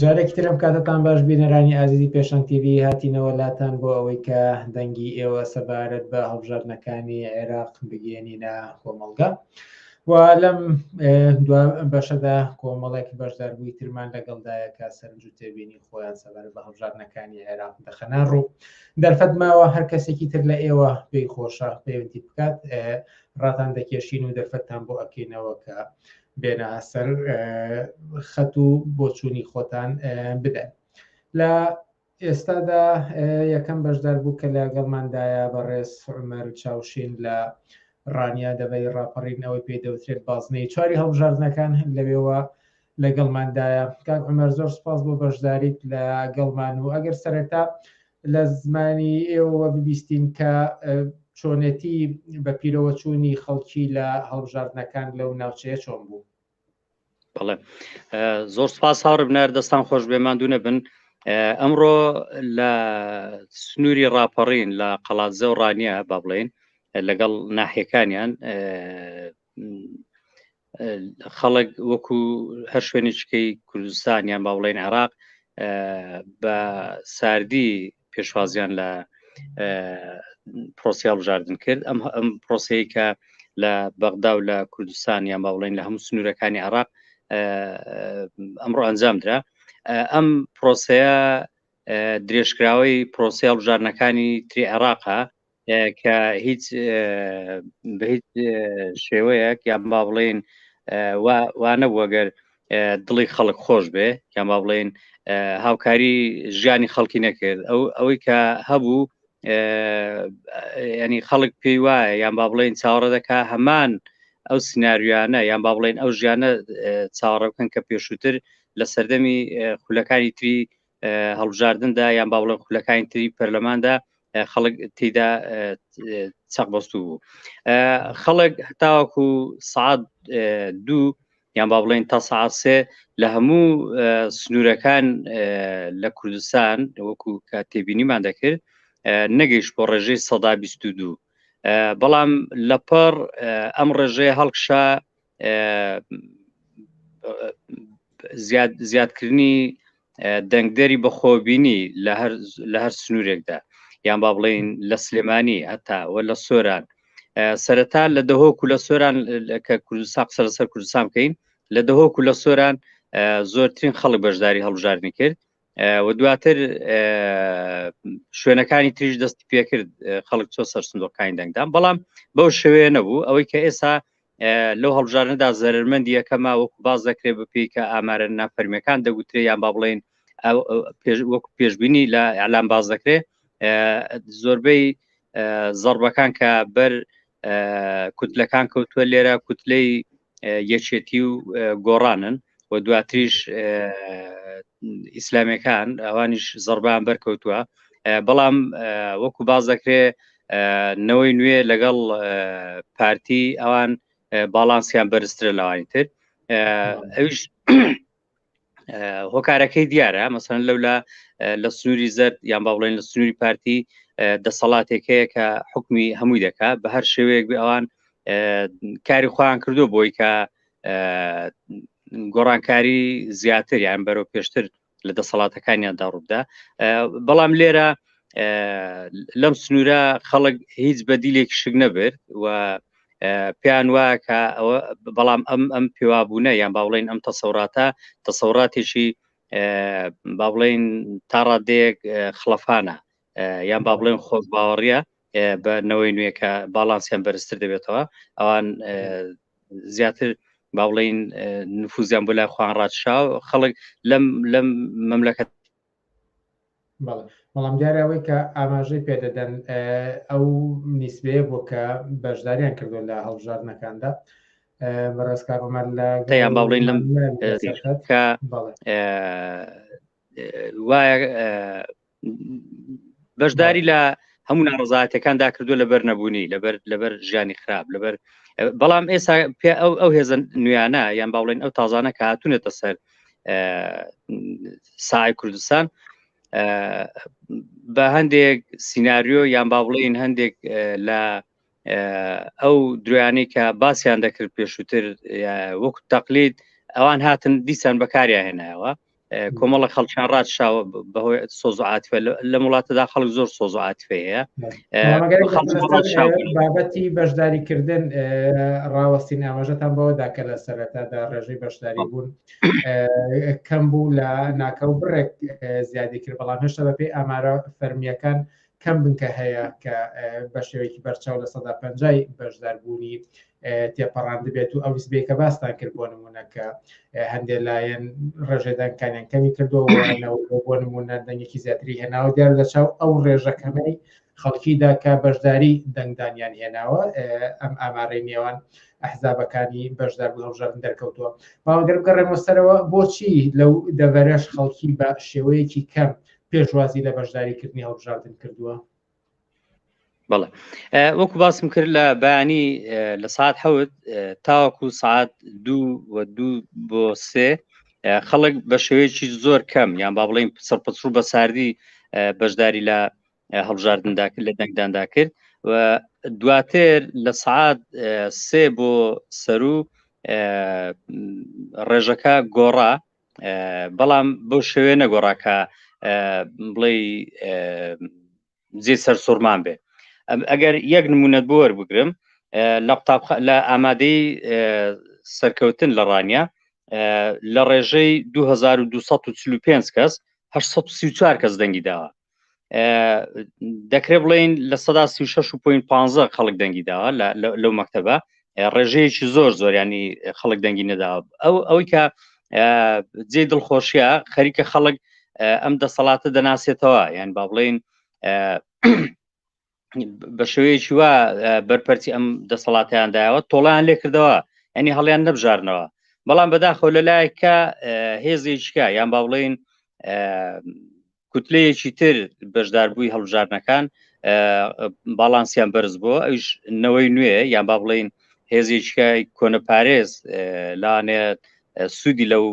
جارێکی ترم کاتتان باش بینەرانی ئازیزی پێشان تیV هاتینەوە لاتان بۆ ئەوەی کە دەنگی ئێوە سەبارەت بە هەڵبژاردنەکانی عێراق بگەێنینە کۆمەڵگە و لەم دوا بەشەدا کۆمەڵێک بەشداربووی ترمان لەگەڵدایە کە سەرنج و تێبینی خۆیان سەبەر بە هەڵبژاردنەکانی عێراق دەخەنە ڕوو دەرفەت ماوە هەر کەسێکی تر لە ئێوە پێی خۆشە پەیوەندی بکات ڕاتان دەکێشین و دەرفەتتان بۆ ئەکەینەوە کە بێنە سەر خەت و بۆچوونی خۆتان بدەن لە ئێستادا یەکەم بەشدار بوو کە لەگەڵماندایە بەڕێز عمەر چاوشین لە ڕانیا دەبەی ڕاپەڕین ئەوەی پێ دەوترێت بازنەی چواری هەڵبژاردنەکان لەوێوە لەگەڵماندایە کاک عمەر زۆر سپاس بۆ بەشداریت لە گەڵمان و ئەگەر سەرەتا لە زمانی ئێوە ببیستین کە چۆنێتی بە پیرەوە چوونی خەڵکی لە هەڵبژاردنەکان لەو ناوچەیە چۆن بوو بەڵێ زۆر سپاس هاوڕ بنار دەستان خۆش بێ ماندوو نەبن ئەمڕۆ لە سنووری ڕاپەڕین لە قەڵاتزە و ڕانیە با بڵێن لەگەڵ ناحەکانیان خەڵک وەکو هەر شوێنێکیکەی کوردستان یان با بڵێن عێراق بە ساردی پێشوازیان لە پرۆسیال بژاردن کرد ئەم ئەم پرۆسەیە کە لە بەغدا و لە کوردستان یان باوڵین لە هەموو سنوورەکانی عراق ئەمڕۆ ئەنجام درا ئەم پرۆسەیە درێژکراوەی پرۆسیال بژارنەکانی تری عێراقە کە هیچ بە هیچ شێوەیەک یان با بڵێن وانە وەگەر دڵی خەڵک خۆش بێ یان با بڵێن هاوکاری ژیانی خەڵکی نەکرد ئەو ئەوەی کە هەبوو ینی خەڵک پێی وایە یان با بڵێن چاوەڕە دەکا هەمان ئەو سناریوانە یان با بڵێن ئەو ژیانە چاوەڕە بکەن کە پێشووتر لە سەردەمی خولەکانی تری هەڵبژاردندا یان باوڵە خولەکانی تری پەرلەماندا خەڵک تیدا چەق بەستو بوو خەڵک هەتاوەکو سعات دوو یان با بڵێن تا سعسێ لە هەموو سنوورەکان لە کوردستان وەکو کە تێبینیمان دەکرد نەگەیش بۆ ڕێژەی سەدا بیست دوو بەڵام لەپەڕ ئەم ڕێژەیە هەڵکشا زیاد زیادکردنی دەنگدەری بەخۆببینی لە هەر لە هەر سنوورێکدا یان با بڵین لە سلێمانی هەتا و لە سۆران سەرەتا لە دەهۆک و لە سۆران کە کوردستان قسە لەسەر کوردستان بکەین لە دەهۆک و لە سۆران زۆرترین خەڵک بەشداری هەڵبژاردنی کرد و دواتر شوێنەکانی تریش دەستی پێکرد خەڵک چۆ سەر سندۆکانی دەنگدان بەڵام بەو شوێ نەبوو ئەوەی کە ئێستا لەو هەڵبژارنەدا زەرمەندی یەکەما وەکو باز دەکرێ بپی کە ئامارە نافەرمیەکان دەگوترێ یان با بڵین وەکو پێشببینی لە ئەلام باز دەکرێ زۆربەی زەربەکان کە بەر کوتلەکان کەوتووە لێرە کوتلەی یەکێتی و گۆڕانن و دواتریش ئیسلامەکان ئەوانیش زڕبان بەرکەوتووە بەڵام وەکو باز دەکرێ نەوەی نوێ لەگەڵ پارتی ئەوان باڵانسیان بەرزترە لەوانی تر ئەوش هۆکارەکەی دیارە مەسەن لەولا لە سنووری زەرد یان با بڵێن لە سنووری پارتی دەسەڵاتێک هەیە کە حکمی هەمووی دەکا بە هەر شێوەیەک بێ ئەوان کاری خۆیان کردو بۆی کە گۆڕانکاری زیاتر یان بەرەو پێشتر لە دەسەڵاتەکانیاندا ڕوودا بەڵام لێرە لەم سنوورە خەڵک هیچ بەدیلێک شک نەبرد و پێیان وایە کە ئەوە بەڵام ئەم ئەم پێوابوونە یان باوڵین ئەم تەسەوراتە تەسەوراتێکی با بڵێن تا ڕادێک خلەفانە یان با بڵێن خۆش باوەڕە بە نەوەی نوێکە باڵانسیان بەرزتر دەبێتەوە ئەوان زیاتر با بڵین نفوزیان بۆ لای خوان ڕادشاو خەڵک لەم لەم مەملەکەت بەڵێ بەڵام دیارە ئەوەی کە ئاماژەی پێدەدەن ئەو نیسبەیە بۆ کە بەشداریان کردو لە هەڵبژاردنەکاندا بەڕێزکارمان لە دەیان باڵین لەم کە وایە بەشداری لە هەموو ناڕزاتەکاندا کردو لەبەر نەبوونی لەبەر لەبەر ژیانی خراپ لەبەر بەڵام ئێستا پێ ئەو ئەو هێزن نوێیانە یان باڵێن ئەو تازانە کە هاتونێتە سەر سای کوردستان بە هەندێک سینناریۆ یان با بڵێن هەندێک لە ئەو درویانەی کە باسییان دەکرد پێشووتر وەک تەقلید ئەوان هاتن دیسان بەکاریا هێنایەوە کۆمەڵە خەڵکیان ڕاتشاوە بەهۆی سۆزعاتفە لە وڵاتەدا خەڵک زۆر سۆزعاتفەیە بابەتی بەشداریکردن ڕاوەستین ئاماژەتان بەوەدا کە لە سەرەتادا ڕێژەی بەشداری بوون کەم بوو لە ناکە و بڕێک زیادی کرد بەڵام هێشتا بەپی ئامارە فەرمیەکان کەم بنکە هەیە کە بە شێوەیەکی بەرچاو لە سەدا پنجای بەشداربوونی تێپەڕاندبێت و ئەو نسبەیە کە باستان کرد بۆ نمونە کە هەندێک لایەن ڕێژێدانکانیان کەمی کردەوە بۆ نمونە دەنگێکی زیاتری هێناوە دیار لە چاو ئەو ڕێژەکەمەی خەڵکیدا کە بەشداری دەنگدانیان هێناوە ئەم ئامارەی نێوان ئەحزابەکانی بەشدار بە هەڵژارن دەرکەوتووە باوەگەر بگەڕێمە سەرەوە بۆچی لەو دەڤەرەش خەڵکی بە شێوەیەکی کەم پێشوازی لە بەشداریکردنی هەڵبژاردن کردووە بەڵێ وەکو باسم کرد لە بەیانی لە ساعت حەوت تاوەکو ساعت دوو و دوو بۆ سێ خەڵک بە شێوەیەکی زۆر کەم یان با بڵین سەرپەچڕوو بە ساردی بەشداری لە هەڵبژاردندا کرد لە دەنگداندا کرد و دواتر لە سعات سێ بۆ سەرو ڕێژەکە گۆڕا بەڵام بۆ شوێ نەگۆڕا کە بڵێ جێ سەر سوورمان بێ ئەگەر یەک نمونەت بۆ وەربگرم لە قوتاب لە ئامادەی سەرکەوتن لە ڕانیە لە ڕێژەی 2245 کەس 1940 کەس دەنگی داوە دەکرێت بڵێن لە سەدا سی شش و پوین پ خەڵک دەنگی داوە لەو مەکتتەبە ڕێژەیەکی زۆر زۆریانی خەڵک دەنگی نەدا ئەو ئەوەی کە جێ دڵخۆشیە خەریکە خەڵک ئەم دەسەڵاتە دەناسێتەوە یان با بڵین بە شێوەیەکی وا بەرپەرتی ئەم دەسەڵاتیان داوە تۆڵیان لێ کردەوە ئەنی هەڵیان نەبژارنەوە بەڵام بەداخۆ لە لایەکە هێزێکیکە یان با بڵین کوتلەیەکی تر بەشداربووی هەڵبژارنەکان باڵانسیان بەرز بۆ ئەوش نەوەی نوێ یان با بڵین هێزێکیکای کۆنەپارێز لاانێت سوودی لەو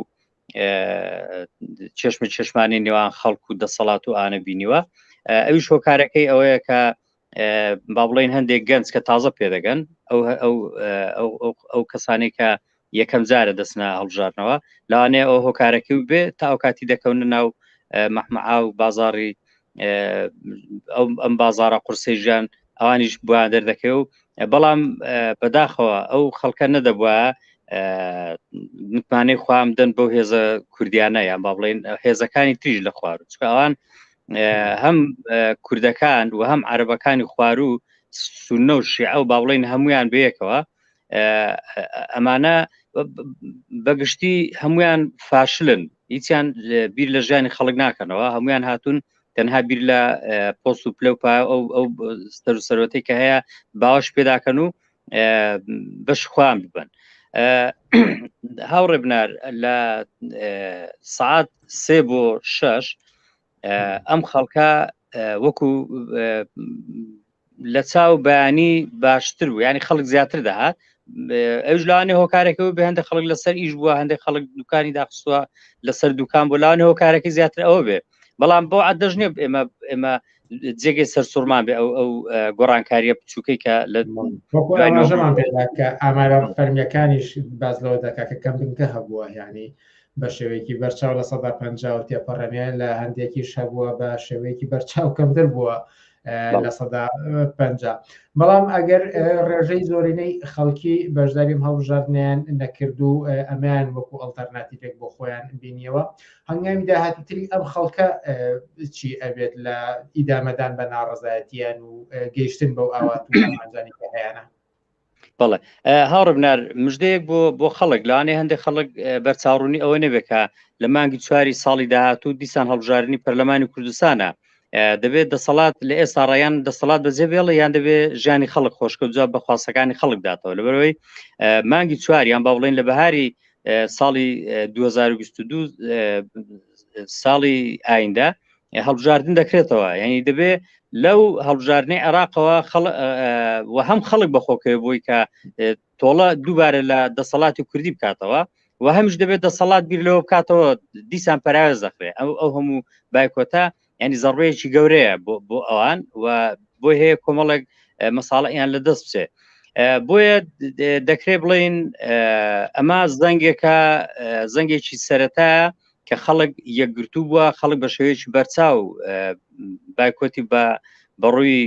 چشم چشمانی نێوان خەڵک و دەسەڵات و ئانە بینیوە ئەوی شۆکارەکەی ئەوەیە کە با بڵین هەندێک گەنج کە تازە پێدەگەن ئەو ئەو کەسانی کە یەکەم جارە دەستنا هەڵبژارنەوە لەوانەیە ئەو هۆکارەکەی بێ تا ئەو کاتی دەکەونە ناو مەحمەعا و بازاری ئەم بازارە قورسی ژیان ئەوانیش بۆ دەردەکەی و بەڵام بەداخەوە ئەو خەڵکە نەدەبووە متمانەی خام دەن بۆ هێزە کوردیانە یان با بڵێن هێزەکانی تریژ لە خوار چکەوان هەم کوردەکان و هەم عربەکانی خوارو سونە و شیعە و با بڵێن هەمویان بەیەکەوە ئەمانە بەگشتی هەمویان فاشلن هیچیان بیر لە ژیانی خەڵک ناکەنەوە هەمویان هاتوون تەنها بیر لە پۆست و پلە و پا ئەو ئەو سەر و سەرەتی کە هەیە باوەش پێداکەن و بەش خوان ببن هاوڕێ بنار لە سعات سێ بۆ شش ئەم خەڵکە وەکو لە چاو بەیانی باشتر و ینی خەڵک زیاتر دەهات ئەوش لاانێ هۆکارەکەەوە بە هەندە خەڵک لەسەر ئیش بووە هەندێک خەڵک دوکانی داخستووە لەسەر دوکان بۆ لاانێ هۆکارەکە زیاتر ئەوە بێ بەڵام بۆ عدەژنێ ئێمە ئێمە جێگە سەر سوورمان بێ ئەو ئەو گۆڕانکاریە بچووکەی کە لە ئامارە فەرمیەکانیش باز لەوە دەکات کە کەمبنکە هەبووە یعنی بە شێوەیەکی بەرچاو لە سەدا پەنجا و تێپەڕێنێ لە هەندێکیش هەبووە بە شێوەیەکی بەرچاو کەمتر بووە لە سەدا پ بەڵام ئەگەر ڕێژەی زۆرینەی خەڵکی بەشداریم هەڵبژاردنیان نەکرد و ئەمیان وەکو ئەڵتەرناتیفێک بۆ خۆیان بینیەوە هەنگامی داهاتیتری ئەم خەڵکە چی ئەبێت لە ئیدامەدان بە ناڕزایەتیان و گەیشتن بەو ئاوات ئەنجانی هەیەە بەڵێ هاوڕبنار مژدەیەک بۆ بۆ خەڵک لانێ هەندێک خەڵک بەرچاوڕوونی ئەوە نەبێکە لە مانگی چواری ساڵی داهاتوو دیسان هەڵبژارنی پەرلەمانی کوردستانە دەبێت دەسەڵات لە ئێستا ڕایان دەسەڵات بەجێ بێڵە یان دەبێت ژیانی خەڵک خۆشکە جواب بە خواستەکانی خەڵک داتەوە لەبەرەوەی مانگی چواریان با بڵێن لە بەهاری ساڵی 2022 ساڵی ئایندا هەڵبژاردن دەکرێتەوە یعنی دەبێ لەو هەڵبژاردنەی عێراقەوە و هەم خەڵک بەخۆکەوە بووی کە تۆڵە دووبارە لە دەسەڵاتی کوردی بکاتەوە و هەمش دەبێت دەسەڵات بیر لەوە بکاتەوە دیسان پراوێز دەخرێ ئەو ئەو هەموو بایکۆتە ینی زەڕبەیەکی گەورەیە بۆ ئەوان و بۆ هەیە کۆمەڵێک مەساڵەیان لە دەست بچێت بۆیە دەکرێت بڵین ئەمە زەنگێکە زەنگێکی سەرەتا کە خەڵک یەکگرتوو بووە خەڵک بە شێوەیەکی بەرچاو بایکۆتی بە بەڕووی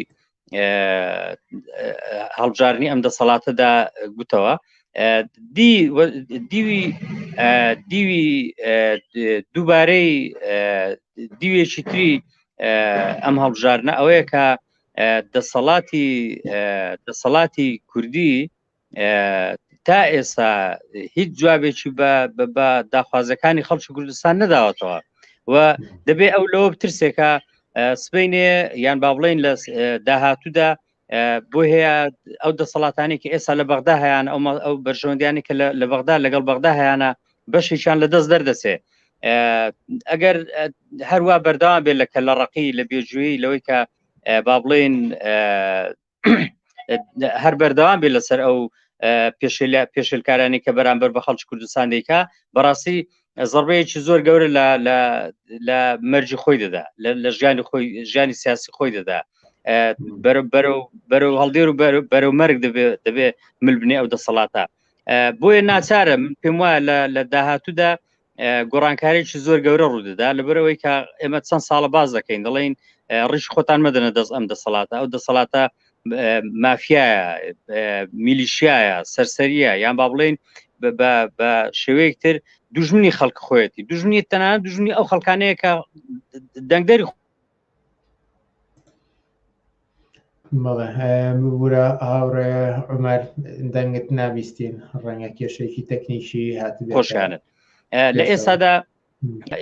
هەڵبژارنی ئەم دەسەڵاتەدا گوتەوە دیوی دیوی دووبارەی دیوێکی تری ئەم هەڵبژارنە ئەوەیە کە دەسەڵاتی دەسەڵاتی کوردی تا ئێستا هیچ جوابێکی بە داخوازەکانی خەڵکی کوردستان نەداوەتەوە و دەبێ ئەو لەوە ترسێکە سبینێ یان با بڵین لە داهاتوودا بۆ هەیە ئەو دەسەڵاتانی کە ئێستا لە بەغدا هەیەیان ئەو ئەو بەرژەوەندیانی کە لە بەغدا لەگەڵ بەغدا هەیەە بەشێکیان لە دەست دەردەسێ ئەگەر هەروە بەردەوام بێت لە کە لە ڕقی لە بێژووی لەوەی کە با بڵێن هەر بەردەوام بێت لەسەر ئەو پێشل پێشلکارانی کە بەرامبەر بە خەڵکی کوردستان دیکە بەڕاستی زڕبەیەکی زۆر گەورە لە مەرجی خۆی دەدا لە ژیانی خۆی ژیانی سیاسی خۆی دەدا بەرەو هەڵدێر و بەرەو مەرگ دەبێت دەبێت ملبنێ ئەو دەسەڵاتە بۆیە ناچارم پێم وایە لە داهاتوودا گۆڕانکارێکی زۆر گەورە ڕوودەدا لەبەرەوەی کە ئێمە چەند ساڵە باز دەکەین دەڵێن ڕیش خۆتان مەدەنە دەست ئەم دەسەڵاتە ئەو دەسەڵاتە مافیایە میلیشیایە سەرسەریە یان با بڵێن بە شێوەیەکتر دژمنی خەڵک خۆەتی دژنی تەنان دژنی ئەو خەڵکانەیە کە دەنگدەری بەڵێ ببورە هاوڕێ عمر دەنگت نابیستین ڕەنگە کێشێکی تەکنیکی هات خۆشیانت لە ئێستادا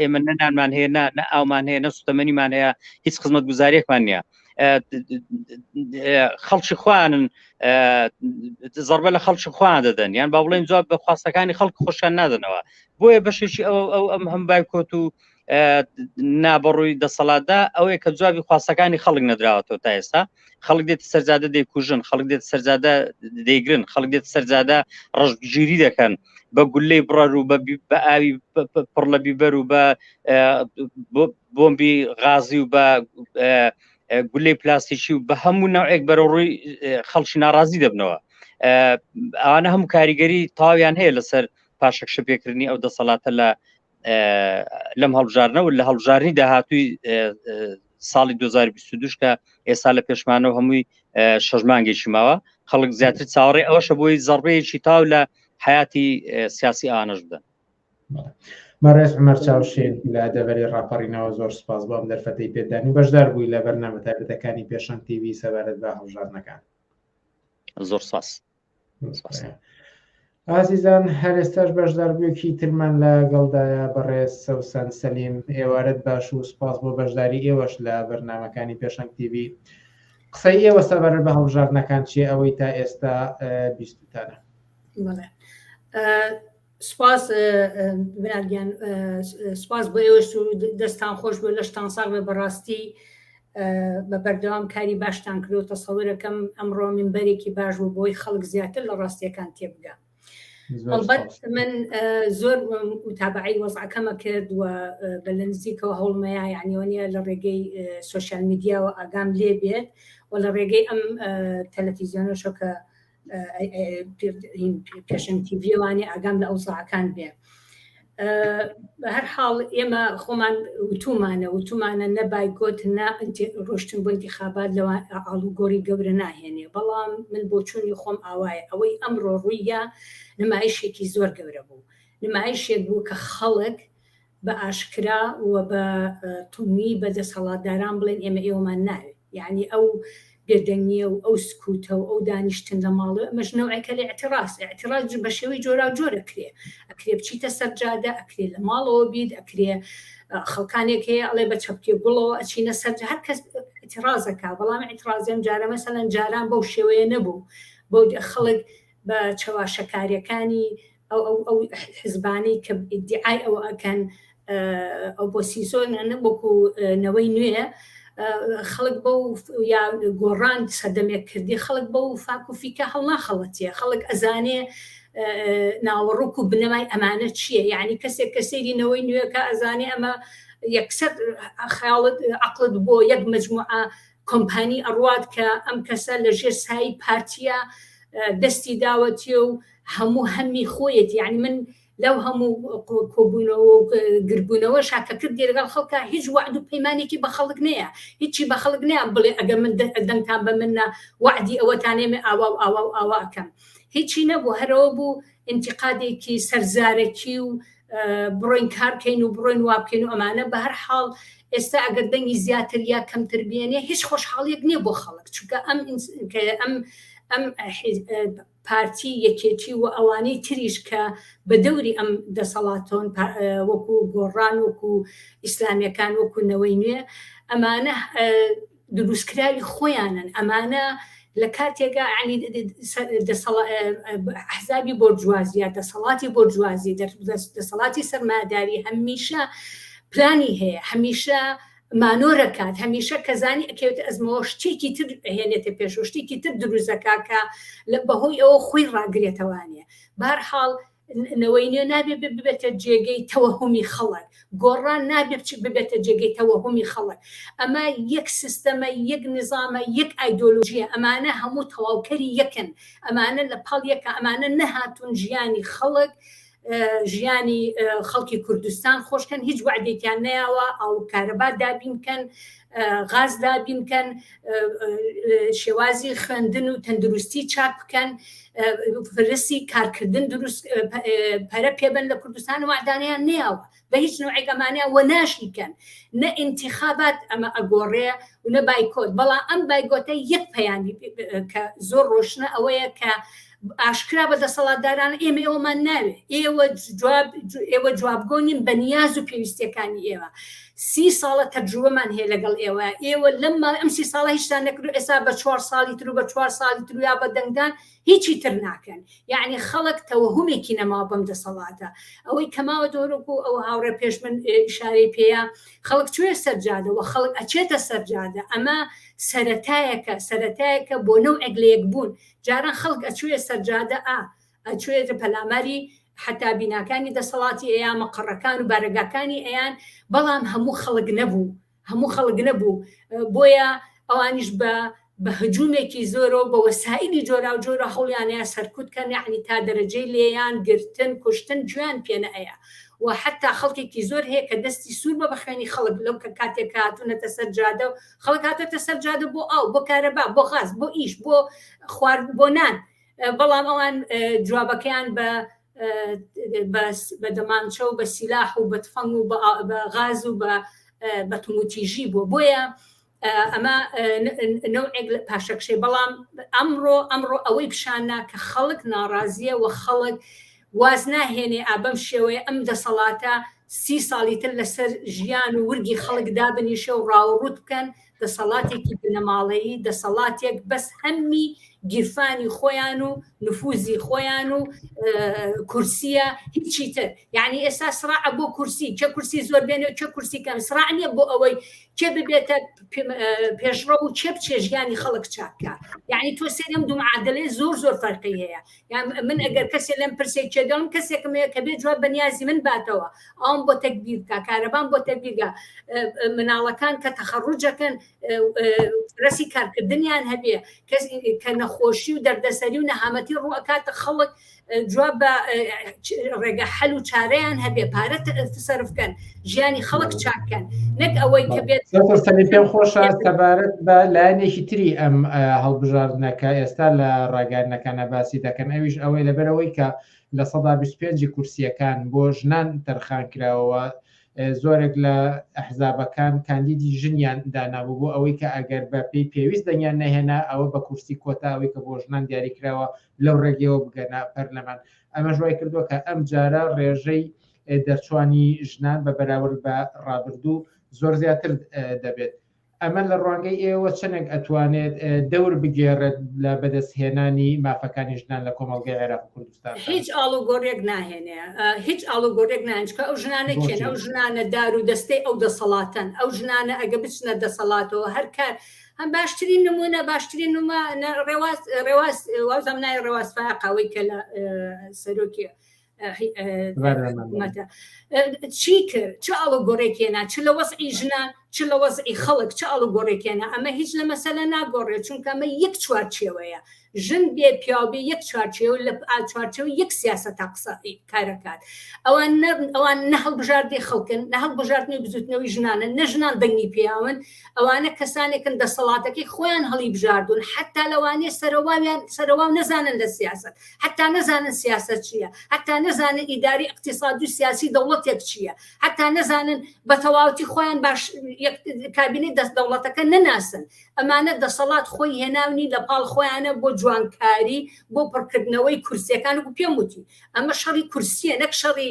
ئێمە نەنانمان هەیە نە ئاومان هەیە نە سوتەمەنیمان هەیە هیچ خزمەت گوزارێکمان نییە خەڵکی خوانن زربە لە خەڵکی خوان دەدەن یان با بڵێن جواب بە خواستەکانی خەڵک خۆشیان نادەنەوە بۆیە بەشێکی ئەو ئەو ئەم هەم بایکۆت و نابڕووی دەسەڵاتدا ئەوەیە کە جوابی خواستەکانی خەڵک نەدراوەتەوە تا ئێستا خەڵک دێت سەرجادە دەیکوژن خەڵک دێت سەرجادە دەیگرن خەڵک دێت سەرجادە ڕژگیری دەکەن بە گولەی بڕەر و بە ئاوی پڕ لە بیبەر و بە بۆمبی غازی و بە گولەی پلاستیکی و بە هەموو ناوێک بەرەڕووی خەڵکی ناڕازی دەبنەوە ئەوانە هەموو کاریگەری تاویان هەیە لەسەر پاشەکشە پێکردنی ئەو دەسەڵاتە لە لەم هەڵبژارنەوە لە هەڵبژارنی داهاتووی ساڵی 2022 کە ئێستا لە پێشمانەوە هەمووی شەژمانگەیشی ماوە خەڵک زیاتر چاوەڕێ ئەوشە بۆی زەڕبەیەکی تاو لە حیاتی سیاسی ئانەش بدەن مەڕێز عمەر چاوشین لە دەبەری ڕاپەڕینەوە زۆر سپاس بۆم دەرفەتی پێدانی بەشدار بووی لە بەرنامە تایبەتەکانی پێشەنگ تیوی سەبارەت بە هەڵژارنەکان زۆر ساس ئازیزان هەرێستاش بەشداربووێکی ترمان لە گەڵدایە بەڕێز سەوسەن سەلیم ئێوارەت باش و سپاس بۆ بەشداری ئێوەش لە بەرنمەکانی پێشنگ تیV قسەی ئێوە سەبەر بە هەڵبژاردنەکان چیە ئەوەی تا ئێستا بیستتانە سپاس برا گیان سپاس بۆ ئێوەش و دەستان خۆش بۆ لەشتان ساغ بە بەڕاستی بە بەردەوام کاری باشتان کرد و تەسەورەکەم ئەمڕۆ منبەرێکی باش بوو بۆی خەڵک زیاتر لە ڕاستیەکان تێبگە هەڵبەت من زۆر متابعی وەزعەکەمە کرد و بە لە نزیکەوە هەوڵمەیە یعنیوانە لە ڕێگەی سوسیال میدیاوە ئاگام لێ بێت و لە ڕێگەی ئەم تەلەفیزیۆنەشە کە پێشنگ تیڤیوانی ئاگام لە ئەوزاعەکان بێ هەر حاڵ ئێمە خۆمان وتومانە وتومانە نەبای گوت نا ڕۆشتن بۆ انتخابات لەوە ئاڵوگۆری گەورە ناهێنێ بەڵام من بۆ چوونی خۆم ئاوایە ئەوەی ئەمڕۆ ڕوویە نمایشێکی زۆر گەورە بوو نمایشێک بوو کە خەڵک بە ئاشکرا و بە تونی بە دەسەڵاتداران بڵێن ئێمە ئێوەمان ناوێ یەعنی ئەو بێدەنگیە و ئەو سکوتە و ئەو دانیشتن لە ماڵێ ئەمەش نەوعێکە لە ئەتیڕاست ئەتیڕاست بە شێوەی جۆرا جۆرە کرێ ئەکرێ بچیتە سەرجادە ئەکرێ لە ماڵەوە بیت ئەکرێ خەڵکانێک هەیە ئەڵێ بە چەپکێ گوڵەوە ئەچینە سەر هەر کەس ئەتیڕازەکە بەڵام ئەتیڕازیان جارە مەسەلەن جاران بەو شێوەیە نەبوو بۆ خەڵک بە چەواشەکاریەکانی ئەو ئەو ئەو حزبانەی کە ئیدعای ئەوە ئەکەن ئۆپۆسیسۆنە وەکو نەوەی نوێ خەڵک بە و یا گۆڕان سەدەمێک کردی خەڵک بە و فاکوفیکە هەڵناخەڵەتیە خەڵک ئەزانێ ناوەڕوک و بنەمای ئەمانە چییە یعنی کەسێک کە سێری نەوەی نوێەکە ئەزانێ ئەمە یەکسەر خیاڵت عقلت بۆ یەک مجموعە کۆمپانی ئەڕوات کە ئەم کەسە لە ژێر سایی پارتیە دەستی داوەتیە و هەموو هەمی خۆیەتی یعنی من لەو هەموو کۆبوونەوە و گربوونەوە شاکەکرد لەگەڵ خەڵکە هیچ وعد و پەیمانێکی بە خەڵک نەیە هیچی بە خەڵک نەیە بڵێ ئەگە من دەنگتان بە منە وعدی ئەوەتانێمە ئاوا و ئاوا و ئاواکەم هیچی نەبوو هەرەوە بوو ئینتیقادێکی سەر زارەکی و بڕۆین کارکەین و بڕۆین وابکەین و ئەمانە بە هەر حاڵ ئێستا ئەگەر دەنگی زیاتر یا کەمتر بێنێ هیچ خۆشحاڵیەک نییە بۆ خەڵک چونکە ئەم ئەم ئەم پارتی یەکێتی و ئەوانەی تریش کە بە دەوری ئەم دەسەڵاتۆن وەکو گۆڕان وەکو ئیسلامیەکان وەکو نەوەی نوێ ئەمانە دروستکراوی خۆیانن ئەمانە لە کاتێکا عنی ئەحزابی بۆرجوازی یا دەسەڵاتی بۆرجوازی دەسەڵاتی سەرمایەداری هەمیشە پلانی هەیە هەمیشە مانۆرەکات هەمیشە کەزانی ئەکەوێت ئەزمەوە شتێکی تر هێنێتە پێشوە شتێکی تر دروزەکە کە لە بەهۆی ئەوە خۆی ڕاگرێتەوانێ بارحاڵ نەوەی نوێ نابێ ببێتە جێگەی تەوەهمی خەڵک گۆڕان نابێ بچ ببێتە جێگەی تەوەهمی خەڵک ئەمە یەک سیستەمە یەک نظامە یەک ئایدۆلوژیە ئەمانە هەموو تەواوکەری یەکن ئەمانە لە پاڵ یەکە ئەمانە نەهاتون ژیانی خەڵک ژیانی خەڵکی کوردستان خۆشکەن هیچ وعدێکیان نیاوە ئاو کارەبا دابینکەن غاز دابین بکەن شێوازی خوێندن و تەندروستی چاک بکەن فرسی کارکردن دروست پەرە پێبن لە کوردستان و معدانیان نیاوە بە هیچ نوعێگەمانیان وە ناشیکەن نە انتخابات ئەمە ئەگۆڕێ و نە بایکۆت بەڵام ئەم بایگۆتە یەک پەیامی کە زۆر ڕۆشنە ئەوەیە کە ئاشکرا بە دەسەڵاتداران ئێمە ئێوەمان ناوێ ئێوە جواب ئێوە جوابگۆنیم بە نیاز و پێویستەکانی ئێوە سی ساڵە تەجروبەمان هەیە لەگەڵ ئێوە ئێوە لەم ماڵ ئەم سی ساڵە هیچتان نەکرد ئێستا بە چوار ساڵی تر و بە چوار ساڵی تر یا بە دەنگدان هیچی تر ناکەن یعنی خەڵک تەوەهمێکی نەما بەم دەسەڵاتە ئەوەی کەماوە دۆرۆک و ئەو هاوڕێ پێش من شارەی پێەیە خەڵک کوێ سەرجادەوە خەڵک ئەچێتە سەرجادە ئەمە سەتایەکە سەتایەکە بۆ نەو ئەگلەیەک بوون جاران خەڵک ئەچوویە سەرجادە ئا ئەچوویەتە پەلاماری حەتا بیناکانی دەسەڵاتی ئەیا مەقەڕەکان و بارەگاکانی ئەیان بەڵام هەموو خەڵک نەبوو هەموو خەڵک نەبوو بۆیە ئەوانیش بە بە هجوومێکی زۆرەوە بە وەسائلی جۆرا و جۆرە هەوڵیانەیە سەرکوت کەن یعنی تا دەرەجەی لێیان گرتن کوشتن جویان پێنە ئەیە و حتا خەڵکێکی زۆر هەیە کە دەستی سوور بە بەخوێنی خەڵک لەو کە کاتێک هاتوونەتە سەر جادە و خەڵک هاتۆتە سەر جادە بۆ ئاو بۆ کارەبا بۆ غاز بۆ ئیش بۆ خوارد بۆ نان بەڵام ئەوان جوابەکەیان بە بە دەمانچە و بە سیلاح و بە تفەنگ و بە غاز و بە بەتموتیژی بووە بۆیە ئەمە نەوەک لە پاشەکشێ بەڵام ئەمڕۆ ئەمڕۆ ئەوەی پیشاننا کە خەڵک ناڕازیە و خەڵک واز ناهێنێ ئا بەم شێوەیە ئەم دەسەڵاتە سی ساڵی تر لە سەر ژیان و ورگی خەڵک دابنیشێ و ڕاوڕووت بکەن، دەسەڵاتێکی بنەماڵەیی، دەسەڵاتێک بەس هەممی گیرفانی خۆیان و نفووزی خۆیان و کورسییە هیچی تر. یانی ئێستا سڕاع بۆ کورسی، کێ کورسی زۆر بێنێ و کێ کورسی کەم، سڕاع نییە بۆ ئەوەی کێ ببێتە پێشڕەو و کێ بچێ ژیانی خەڵک چاک کا. یانی تۆ سەیرم دوو معادلەی زۆر زۆر فەرقی هەیە. من ئەگەر کەسێ لەم پرسێک چێگەڵم کەسێکم هەیە کە بێ جواب بەنیازی من باتەوە ئەوم بۆ تەکبیر بکە کارەبان بۆ تەبیرگە مناڵەکان کە تەخەڕوجەکەن رەسی کارکردنیان هەبێ کەس کە نەخۆشی و دەردەسەری و نەهامەتی ڕووەکاتە خەڵک جواب بە ڕێگە حەل و چارەیان هەبێ پارە سرفکەن ژیانی خەڵک چاککەن نەک ئەوەی کە بێت پێ خۆشە سەبارەت بە لایەنێکی تری ئەم هەڵبژاردنەکە ئێستا لە ڕاگەانەکانە باسی دەکەن ئەویش ئەوەی لەبەرەوەی کە لە سەدا 25 کورسیەکان بۆ ژنان تەرخان کراوەوە زۆرێک لە ئەحزابەکان کاندیدی ژنیان دانابوو بۆ ئەوەی کە ئەگەر بە پێی پێویست دەنگیان نەهێنا ئەوە بە کورسی کۆتاوەی کە بۆ ژنان دیاری کراوە لەو ڕێگەیەوە بگەنا پەرلەمان ئەمە ژوای کردووە کە ئەم جارە ڕێژەی دەرچوانی ژنان بە بەراورد بە ڕابردوو زۆر زیاتر دەبێت ئەمە لە ڕوانگەی ئێوە چەنێک ئەتوانێت دەور بگێڕێت لە بەدەستهێنانی مافەکانی ژنان لە کۆمەڵگەی عێراق کوردستان هیچ ئاڵوگۆڕێک ناهێنێ هیچ ئاڵوگۆڕێک نانچکە ئەو ژنانە کێن ئەو ژنانە دار و دەستەی ئەو دەسەڵاتەن ئەو ژنانە ئەگە بچنە دەسەڵاتەوە هەر کار هەم باشترین نمونە باشترین نمە ڕێواز ڕێواز وازم نای ڕێواز فاقەوەی کە لە سەرۆکیە چی کرد چ ئاڵ گۆڕێکێنا چ لە وەزعی ژنان چ لە وەزعی خەڵک چ ئاڵ گۆڕێکێنا ئەمە هیچ لە مەسەلە ناگۆڕێ چونکەمە یەک چوار چێوەیە ژن بێ پیاوبێ یەک چوارچێو لە چوارچەو یەک سیاسە تا قسە کارەکات ئەوان ئەوان نە هەڵبژاردی خەڵکن نە هەڵبژاردنی بزوتنەوەی ژنانە نە ژنان دەنگی پیاون ئەوانە کەسانێکن دەسەڵاتەکەی خۆیان هەڵی بژاردون حتا لەوانێ سەرواویان سەروا نەزانن لە سیاست حتا نەزانن سیاسەت چییە حتا نەزانن ئیداری اقتصادی و سیاسی دەوڵەتێک چییە حتا نەزانن بە تەواوتی خۆیان باش کابینی دەست دەوڵەتەکە نەناسن ئەمانە دەسەڵات خۆی هێناونی لە پاڵ خۆیانە بۆ جوانکاری بۆ پڕکردنەوەی کورسیەکان و پێم وتی ئەمە شەڕی کورسیە نەک شەڕی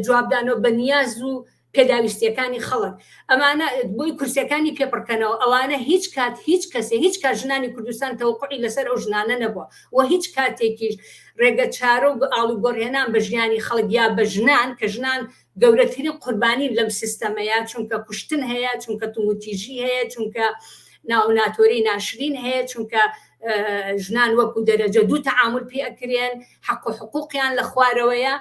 جوابدانەوە بە نیاز و پێداویستیەکانی خەڵک ئەمانە بۆی کورسەکانی پێپڕکەنەوە ئەوانە هیچ کات هیچ کەسێ هیچ کات ژنانی کوردستان تەوقعی لەسەر ئەو ژنانە نەبووە و هیچ کاتێکیش ڕێگە چارە و ئاڵو گۆڕهێنان بە ژیانی خەڵک یا بە ژنان کە ژنان گەورەترین قوربانی لەم سیستەمەیە چونکە کوشتن هەیە چونکە توموتیژی هەیە چونکە ناوناتۆری ناشرین هەیە چونکە ژنان وەکو دەرەجە دوو تەعامل پێ ئەکرێن حەق و حقوقیان لە خوارەوەیە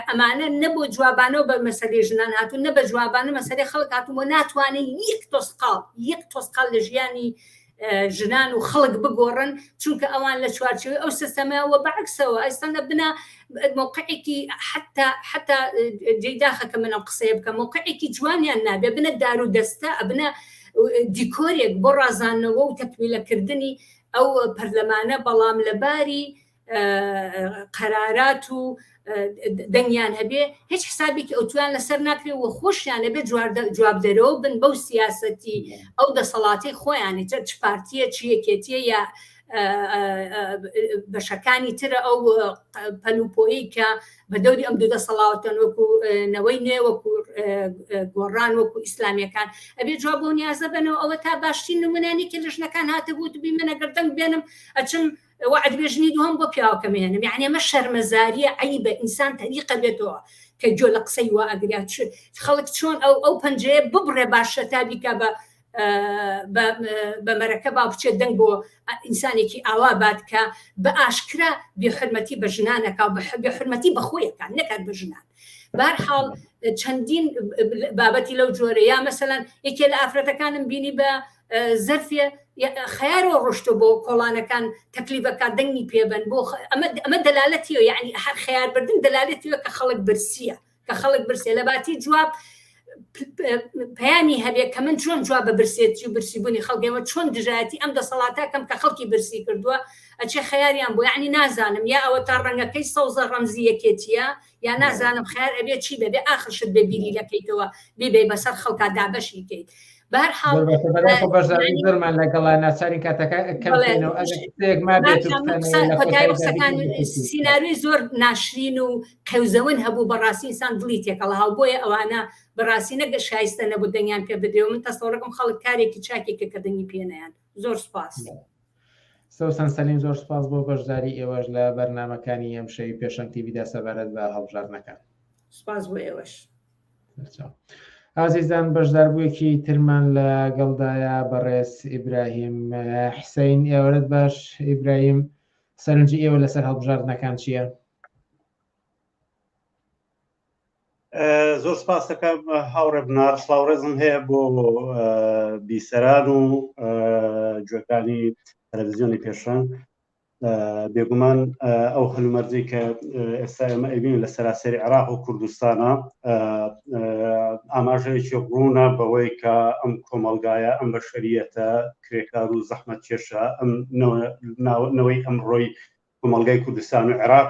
ئەمانە نە بۆ جوابانەوە بە مەسەری ژنان هاتوو نە بە جوابانە مەسەری خەڵک هاتوو بۆ ناتوانین یەک تۆسقاڵ یەک تۆسقال لە ژیانی ژنان و خەڵک بگۆڕن چونکە ئەوان لە چوارچوی ئەو سیستەمەوە بەعکسەوە ئەستانە بنا موقعێکی حتا حتا جێی داخەکە منم قسەیە بکە موقعێکی جوانیان نابێ بنە دار و دەستە ئەبنە دیکۆرێک بۆ ڕازانەوە و تەکمیلەکردنی ئەو پەرلەمانە بەڵام لەباری قەرارات و دەنگیان هەبێ هیچ حسابێکی ئەوتویان لەسەر ناکرێ و خۆشیان لەبێ جواب دەرەوە بن بەو سیاستی ئەو دەسەڵاتی خۆیانی چ چ پارتیە چ یەکێتیە یا بەشەکانی ترە ئەو پەلوپۆی کە بە دەوری ئەم دوو دەسەڵاوتەن وەکو نەوەی نوێ وەکو گۆڕان وەکو ئیسلامیەکان ئەبێ جواب بۆ نیازە بنەوە ئەوە تا باشترین نمونانی کە لەژنەکان هاتە بوو دوبی منەگەر دەنگ بێنم ئەچم وەعد بێ ژنی دووەم بۆ پیاوەکەم هێنم یعنی ئەمە شەرمەزاریە عیبە ئینسان تەریقە بێتەوە کە گوێ لە قسەی وا ئەگریا خەڵک چۆن ئەو ئەو پەنجەیە ببڕێ باشە تا بیکە بە بەمەرەکە با بچێت دەنگ بۆ ئینسانێکی ئاوا بات کە بە ئاشکرا بێحرمەتی بە ژنانەکە و بە حرمەتی بەخۆیەکان نەکات بە ژنان بارحاڵ چەندین بابەتی لەو جۆرە یا مەسەەن یەکێ لە ئافرەتەکانم بینی بە زەرفێ خیارەوە ڕۆشتۆ بۆ کۆڵانەکان تەکلیبەکە دەنگی پێبن بۆ ئەمە دەلالەتی و یعنی هەر خیاربردن دەلالەتی کە خەڵک برسیە کە خەڵک برسێ لە باتی جواب پەیامی هەبێت کە من چۆن جواب بە برسێتی و برسیبوونی خەڵگەمە چۆن دژایەتی ئەم دەسەڵاتە کەم کە خەڵکی برسی کردووە ئەچێ خیاریان بۆ یعنی نازانم یا ئەوە تا ڕەنگەکەی سەوزە ڕەمزی یەکێتیە یان نازانم خەیار ئەبێ چی بێ بێ ئاخر شت بێ بیری لەکەیتەوە بیبەی بەسەر خەڵکا دابەشی کەیت بەرحاڵمان لەگەڵا ناچارین کاتەکە سینناوی زۆر ناشرین و قەوزەون هەبوو بەڕاستی ئسان دڵی تێکەڵە هاو بۆیە ئەوانە بەڕاستی نەگە شایستە نەبوو دەنگیان پێ بدرێ من تەسەڵەکەم خەڵک کارێکی چاکێکە کە دەنگی پێنیان زۆر سپاس. سوسەن سەلیم زۆر سوپاس بۆ بەشداری ئێوەش لە بەرنامەکانی ئەمشەوی پێشەنگ تیڤی دا سەبارەت بە هەڵبژاردنەکان. سوپاس بۆ ئێوەش. ئازیزان بەشداربوویەکی ترمان لە گەڵدایە بەڕێز ئیبراهیم حسین ئێوەرت باش ئیبراهیم سەرنجی ئێوە لەسەر هەڵبژاردنەکان چییە؟ زۆر سپاس دەکەم هاوڕێ بنار سلااو ڕێزم هەیە بۆ بیسەران و جوەکانی تەلەڤزیۆنی پێشەن بێگومان ئەو هەلومەرجی کە ئێستا ئێمە ئەبین لە سەراسەری عراق و کوردستانە ئاماژەیەکی ڕوونە بەوەی کە ئەم کۆمەلگایە ئەم بە شەریەتە کرێکار و زەحمەت کێشە ئەم نەوەی ئەم ڕۆی کۆمەلگای کوردستان و عێراق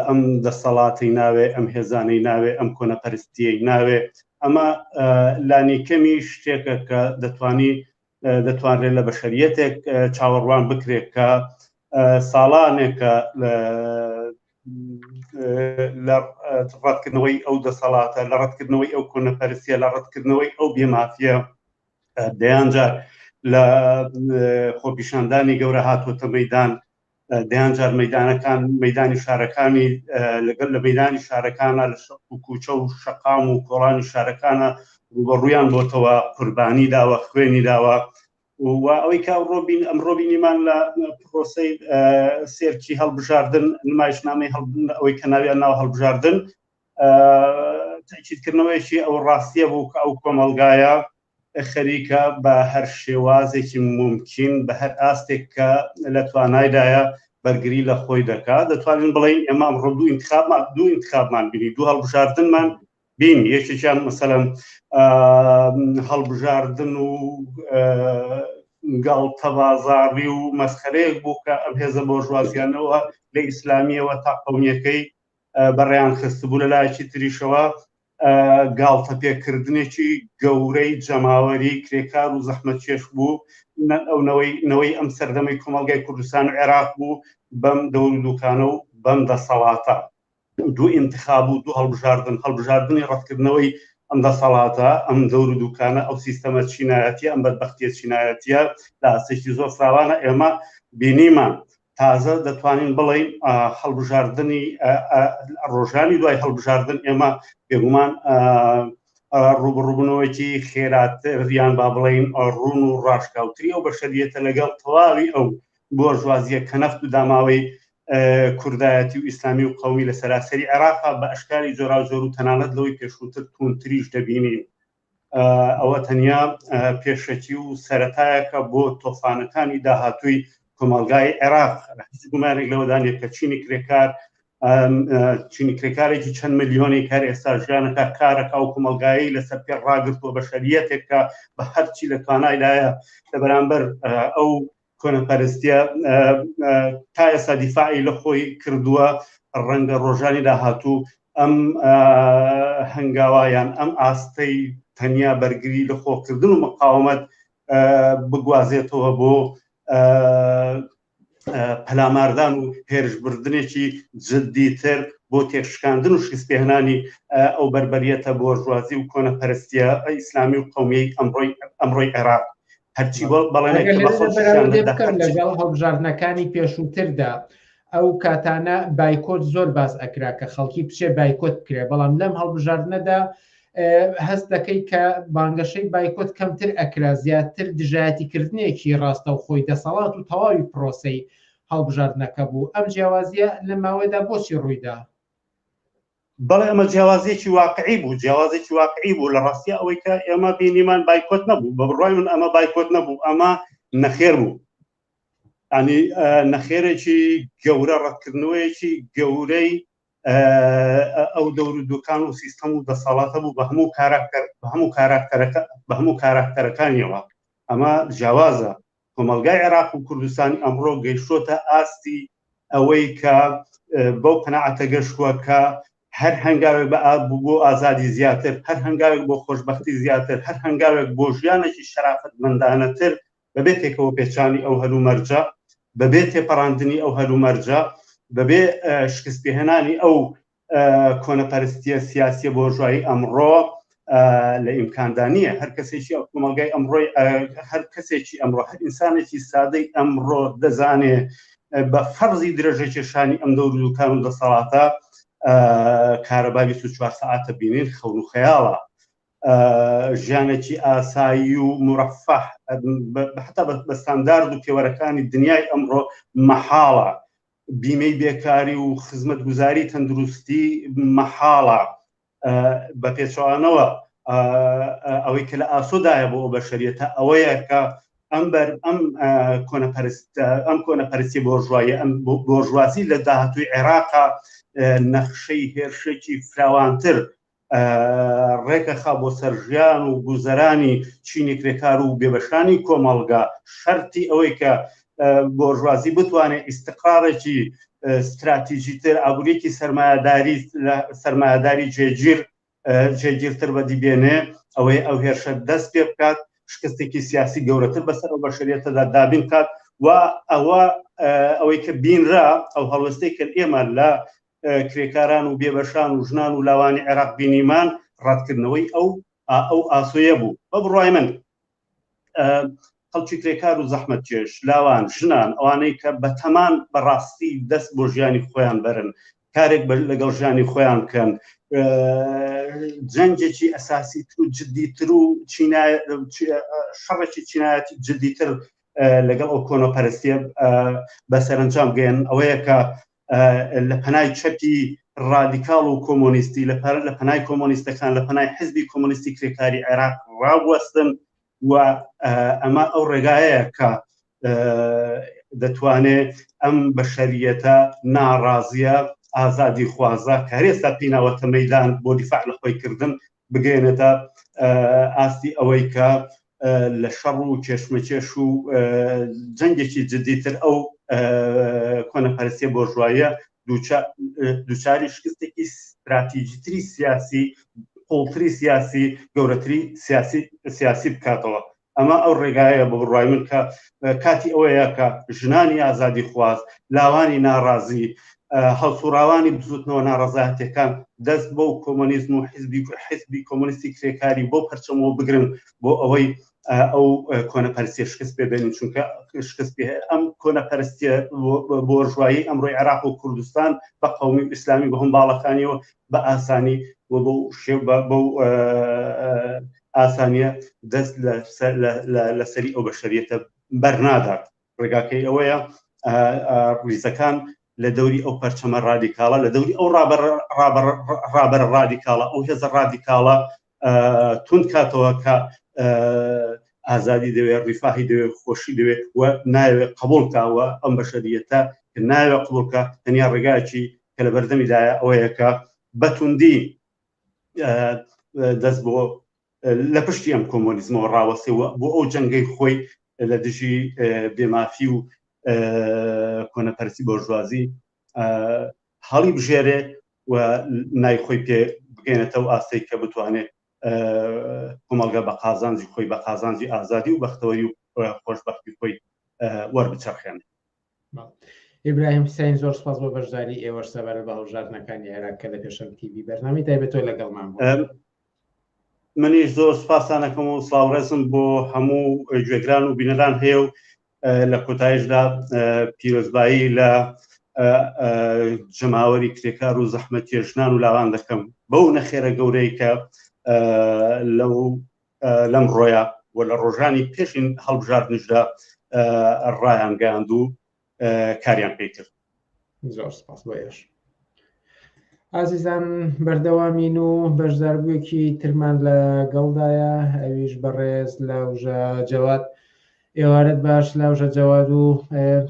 ئەم دەسەڵاتەی ناوێ، ئەم هێزانەی ناوێ، ئەم کۆنەپەرستیەی ناوێ، ئەمە لانیکەمی شتێکە کە دەتوانی دەتوانرێت لە بەشەریەتێک چاوەڕوان بکرێت کە ساڵانێکە لە ڕەتکردنەوەی ئەو دەسەڵاتە لە ڕەتکردنەوەی ئەو کۆنەپەرسیە لە ڕەتکردنەوەی ئەو بێمافە دەیانجار لە خۆپیشاندانی گەورە هاتووەتە مەدان دەیان جار مەدانەکان مەدانی شارەکانی لەگەر لە مەدانی شارەکانە لە شەق و کوچە و شەقام و کۆڵانی شارەکانە ڕوبەڕویان بۆتەوە قوربانی داوە خوێنی داوە و ئەوەی کا ڕۆبین ئەم ڕۆبینیمان لە پرۆسی سێرکی هەڵبژاردن نمایشنامەی هەڵ ئەوەی کە ناویان ناو هەڵبژاردن تاکیدکردنەوەیەکی ئەو ڕاستیە بوو کە ئەو کۆمەلگایە خەریکە بە هەر شێوازێکی مومکین بە هەر ئاستێک کە لە توانایدایە بەرگری لە خۆی دەکات دەتوانین بڵین ئێمە ئەمڕۆ دوو انتخابمان دوو انتخابمان بینی دوو هەڵبژاردنمان بین یەکێکیان مەسەلەن هەڵبژاردن و گاڵتە بازاڕی و مەسخەرەیەک بوو کە ئەم هێزە بۆژوازیانەوە لە ئیسلامیەوە تا قومیەکەی بەڕیان خستبوو لە لایەکی تریشەوە گاڵتەپێکردنێکی گەورەی جەماوەری کرێکار و زەحمە چێش بوو ئەو نەوەی نەوەی ئەم سەردەمی کۆمەلگای کوردستان و عێراق بوو بەم دەور دوکانە و بەم دەسەڵاتە دوو ئینتخاب و دوو هەڵبژاردن هەڵبژاردننی ڕەتکردنەوەی ئەم دەسەڵاتە ئەم دەور دوکانە ئەو سیستەمە چینایەتی ئەم بەدبختیە چینایەتە لە ئاستێکی زۆر فراوانە ئێمە بینیمان تازە دەتوانین بڵین هەڵبژاردننی ڕۆژانی دوای هەڵبژاردن ئێمە بێگومان ڕوبڕوبنەوەیکی خێراتر یان با بڵین ڕون و ڕاشکاوتری ئەو بەشەریەتە لەگەڵ تەواوی ئەو بۆ ژوازیە کە نەفت و داماوەی کوردایەتی و ئیسلامی و قومی لە سەراسەری عێراقا بە ئەشکاری جۆرا زۆر و تەنانەت لەوەی پێشووتر تونتریش دەبینین ئەوە تەنیا پێشەکی و سەتایەکە بۆ تۆفانەکانی داهاتووی کۆمەلگای عێراق هیچ گومانێک لەوەدانێت کە چینی کرێکار چینی کرێکارێکی چەند ملیۆنی کار ئێستا ژیانەکە کارەکە و کۆمەلگایی لەسەر پێ ڕاگرتووە بە شەریەتێکە بە هەرچی لە توانایدایە لە بەرامبەر ئەو کۆنەپەرستیە تا ئێستا دیفاعی لە خۆی کردووە ڕەنگە ڕۆژانی داهاتوو ئەم هەنگاوایان ئەم ئاستەی تەنیا بەرگری لە خۆکردن و مقاومەت بگوازێتەوە بۆ پەلاماردان و هێرشبردنێکی جددیتر بۆ تێکشکاندن و شیسپێهنانی ئەو بربەریەتە بۆژوازی و کۆنەپەرستیە ئیسلامی و قومیەی ئەمڕۆی ئەمڕۆی عێراق هەرچی لەگەڵ هەڵبژاردنەکانی پێشووتردا ئەو کاتانە بایکۆت زۆر باز ئەکرا کە خەڵکی بچێ بایکۆت بکرێ بەڵام لەم هەڵبژاردنەدا هەست دەکەی کە بانگەشەی بایکۆت کەمتر ئەکرا زیاتر دژایەتیکردنێکی ڕاستە و خۆی دەسەڵات و تەواوی پرۆسی هەڵبژاردنەکە بوو ئەم جیاوازیە لە ماوەدا بۆچی ڕوویدا بەڵێ ئەمە جیاوازیەکی واقعی بوو جیاوازێکی واقعی بوو لە ڕاستیا ئەوەی کە ئێمە بینیمان بایکۆت نەبوو بە بڕای من ئەمە بایکۆت نەبوو ئەمە نەخێر بوو ئەنی نەخێرێکی گەورە ڕەتکردنەوەیەکی گەورەی ئەو دەور و دوکان و سیستەم و دەسەڵاتە بوو بە هەموو کاراکتەر بە هەموو کاراکتەرەکە بە هەموو کاراکتەرەکانیەوە ئەمە جیاوازە کۆمەڵگای عێراق و کوردستانی ئەمڕۆ گەیشتۆتە ئاستی ئەوەی کە بەو قەنەعەتە گەشتووە کە هەر هەنگاوێک بە ئاب بۆ ئازادی زیاتر هەر هەنگاوێک بۆ خۆشببختی زیاتر هەر هەنگاوێک بۆ ژیانێکی شەرافەت مندانەتر بەبێ تێکەوە پێچانی ئەو هەلو مەرجە بەبێ تێپەڕاندنی ئەو هەلو مەرجە بەبێ شکست پێهێنانی ئەو کۆنەپەرستیە سیاسیە بۆژایی ئەمڕۆ لە ئیمکاندا نییە هەر کەسێکی ئەو کۆمەلگای ئەمڕۆی هەر کەسێکی ئەمڕۆ هەر ئینسانێکی سادەی ئەمڕۆ دەزانێ بە فەرزی درێژەکێشانی ئەم دەور دوکان و دەسەڵاتە کارەبا 24 ساعتە بینین خەون و خەیاڵە ژیانێکی ئاسایی و مرەفەح حتا بە ستاندارد و پێوەرەکانی دنیای ئەمڕۆ مەحاڵە بیمەی بێکاری و خزمەتگوزاری تەندروستی مەحاڵە بە پێچوانەوە ئەوەی کە لە ئاسۆدایە بۆ ئەو بەشەریەتە ئەوەیە کە ئەم بەر ئەم کۆنەپەرستە ئەم کۆنەپەرسی بۆژوایە ئەم بۆژوازی لە داهاتوی عێراقا نەخشەی هێرشێکی فراوانتر ڕێکەخا بۆ سەر ژیان و گوزەرانی چینی کرێکار و بێبەشانی کۆمەڵگا شەرتی ئەوەی کە بۆرژوازی بتوانێت ئیسقاڕێکی ستراتیژی تر ئابووریکی سرمایهداری سرمایهداری جێگیر جێگیرتر بەدی بێنێ ئەوەی ئەو هێرشە دەست پێ بکات شکستێکی سیاسی گەورەتر بەسەر ئەو بەشریەتەدا دابین کات و ئەوە ئەوەی کە بینرا ئەو هەڵوستەی کە ئێمە لە کرێکاران و بێبەشان و ژنان و لاوانی عێراق بینیمان ڕەتکردنەوەی ئەو ئەو ئاسۆیە بوو بە بڕای من خەڵکی کرێکار و زەحمت جێش لاوان ژنان ئەوانەی کە بەتەمان بەڕاستی دەست بۆ ژیانی خۆیان بەرن کارێک بەر لەگەڵ ژیانی خۆیان بکەن جەنجێکی ئەساسی تر و جددیتر و شەڕێکی چینایەتی جددیتر لەگەڵ ئەو کۆنەپەرستیە بە سەرنجام گەێن ئەوەیە کە لە پەنای چەپی ڕادیکاڵ و کۆمۆنیستی لە پەر لە پەنای کۆمۆنیستەکان لە پەنای حزبی کۆمۆنیستی کرێکاری عێراق ڕاوەستن و ئەمە ئەو ڕێگایە کە دەتوانێت ئەم بەشەریەتە ناڕازیە ئازادی خوازە کارێستا پیناوەتە مەدان بۆ دیفاع لە خۆی کردن بگەێنێتە ئاستی ئەوەی کە لە شەڕ و کێشمەکێش و جەنگێکی جددیتر ئەو کۆنەپەرسیە بۆژوایە دووچاری شکستێکی استراتیژیتری سیاسی قوڵتری سیاسی گەورەتری سیاسی سیاسی بکاتەوە ئەمە ئەو ڕێگایە بە بڕوای من کە کاتی ئەوەیە کە ژنانی ئازادی خواز، لاوانی ناڕازی، هەڵسوڕاوانی بزوتنەوە ناڕەزایەتیەکان دەست بەو کۆمۆنیزم و حیزبی حیزبی کۆمۆنیستی کرێکاری بەو پەرچەمەوە بگرن بۆ ئەوەی ئەو کۆنەپەرستیە شکست پێ بێنن چونکە شکست پێ ئەم کۆنەپەرستیە بۆرژوایی ئەمڕۆی عێراق و کوردستان بە قومی ئیسلامی بە هەم باڵەکانیەوە بە ئاسانی و بەو شێ بەو ئاسانیە دەست لە سەری ئەو بەشەریەتە بەرنادات ڕێگاکەی ئەوەیە ڕیزەکان لە دەوری ئەو پەرچەمە ڕادیکاڵە لە دەوری ئەو ڕابەر ڕابەر ڕادیکاڵە ئەو هێزە ڕادیکاڵە تون کاتەوە کە ئازادی دەوێ ڕیفاهی دەوێ خۆشی دەوێ و ناوێ قبولکەوە ئەم بەشەریەتە کە ناوێ قبولکە تەنیا ڕێگایکی کە لە بەردەمیدایە ئەوەیەکە بەتوندی دەست بۆ لە پشتی ئەم کۆمۆنیزمەوە ڕاوەسەوە بۆ ئەو جەنگەی خۆی لە دژی بێمافی و کۆنەپەرسی بۆژوازی هەڵی بژێرێ و نای خۆی پێ بگەێنێتەوە ئاستێک کە بتوانێت کۆمەڵگە بە قازانجی خۆی بە قازانجی ئازادی و بەختەوەری و خۆشببختی خۆی وەربچەخێنێت ئیبراهیم حسین زۆر سپاس بۆ بەشداری ئێوەش سەبەر بە هەڵژارنەکانی عێراق کە لە پێشم تیوی بەرنامی تایبەتۆ لەگەڵمان منیش زۆر سپاسانەکەم و ساڵڕێزم بۆ هەموو گوێگران و بینەران هەیە و لە کۆتایشدا پیرۆزبایی لە جەماوەری کرێکار و زەحمە کێشنان و لاوان دەکەم بەو نەخێرە گەورەی کە لەو لەم ڕۆیا و لە ڕۆژانی پێشین هەڵبژاردنشدا ڕایانگەاند و کاریان پێی کرد زۆر سپاس بۆ ئێش ئازیزان بەردەوامین و بەشداربوویەکی ترمان لە گەڵدایە ئەویش بەڕێز لاوژە جەوات ئێوارەت باش لاوژە جەواد و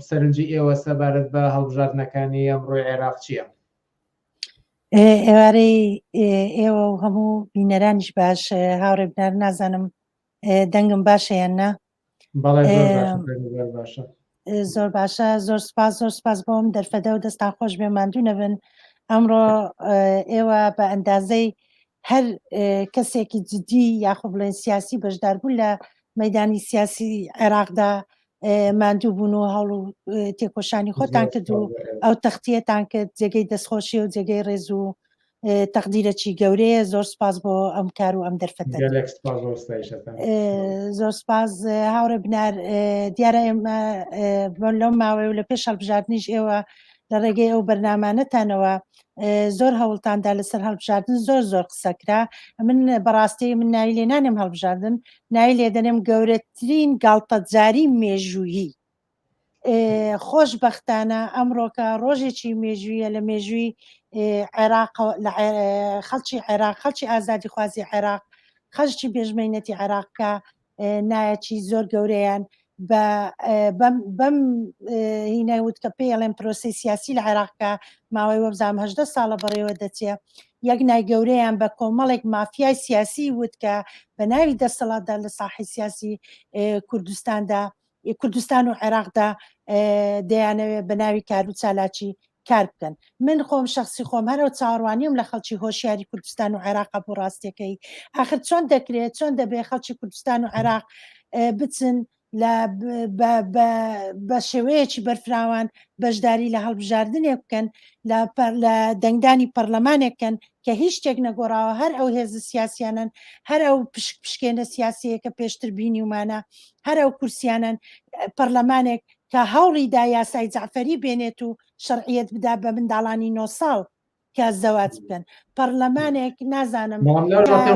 سەرنجی ئێوە سەبارەت بە هەڵبژاردنەکانی ئەمڕۆی عێراق چییە ئێوارەی ئێوە و هەموو بینەرانیش باش هاوڕێبدار نازانم دەنگم باشەیان نا زۆر باشە زۆر سپاس زۆر سپاس بۆم دەرفەدە و دەستان خۆش بێ ماندوو نەبن ئەمڕۆ ئێوە بە ئەندازەی هەر کەسێکی جددی یاخۆ بڵێن سیاسی بەشداربوون لە مەدانی سیاسی عێراقدا ماندوو بوون و هەڵ و تێکۆشانی خۆتان کرد و ئەو تەختیەتان کرد جێگەی دەستخۆشی و جێگەی ڕێز و تەقدیرەکی گەورەیە زۆر سپاس بۆ ئەم کار و ئەم دەرفەتە زۆر سپاس هاوڕێ بنار دیارە ئێمە لەم ماوەی و لە پێش هەڵبژاردنیش ئێوە لە ڕێگەی ئەو بەرنمانەتانەوە زۆر هەوڵتاندا لەسەر هەڵبژاردن زۆر زۆر قسەکرا من بەڕاستی من ناوی لێ نانێم هەڵبژاردن ناوی لێ دەنێم گەورەترین گاڵتەجاری مێژوویی خۆش بەختانە ئەمڕۆکە ڕۆژێکی مێژویە لە مێژووی عێراق خەڵکی عێراق خەڵکی ئازادی خوازی عێراق خەشتی بێژمەینەتی عێراقکە نایەکی زۆر گەورەیان بەم هینای وت کە پێی ئەڵێن پرۆسی سیاسی لە عێراقکە ماوەی وەبزانام هەدە ساڵە بەڕێوە دەچێ یەک نای گەورەیان بە کۆمەڵێک مافیای سیاسی وت کە بە ناوی دەسەڵاتدا لە ساحی سیاسی کوردستاندا ی کوردستان و عێراقدا دەیانەوێت بە ناوی کار و چالاکی کار بکەن من خۆم شخصی خۆم هەرەوە چاوەڕوانیم لە خەڵکی هۆشیاری کوردستان و عێراق بۆ ڕاستیەکەی آخر چۆن دەکرێت چۆن دەبێت خەڵکی کوردستان و عێراق بچن بە شێوەیەکی بەرفراوان بەشداری لە هەڵبژاردنێک بکەن لە دەنگدانی پەرلەمانێکن کە هیچ شتێک نەگۆڕاوە هەر ئەو هێز سیاسیانن هەر ئەو پشک پشکێنە سیاسەیە کە پێشتر بینیمانە هەر ئەو کورسیانەن پەرلەمانێک کە هەوڵی دا یاسای جعفەری بێنێت و شەرعیت بدا بە منداڵانی نۆ ساڵ کە زەواج بکەن پەرلەمانێک نازانم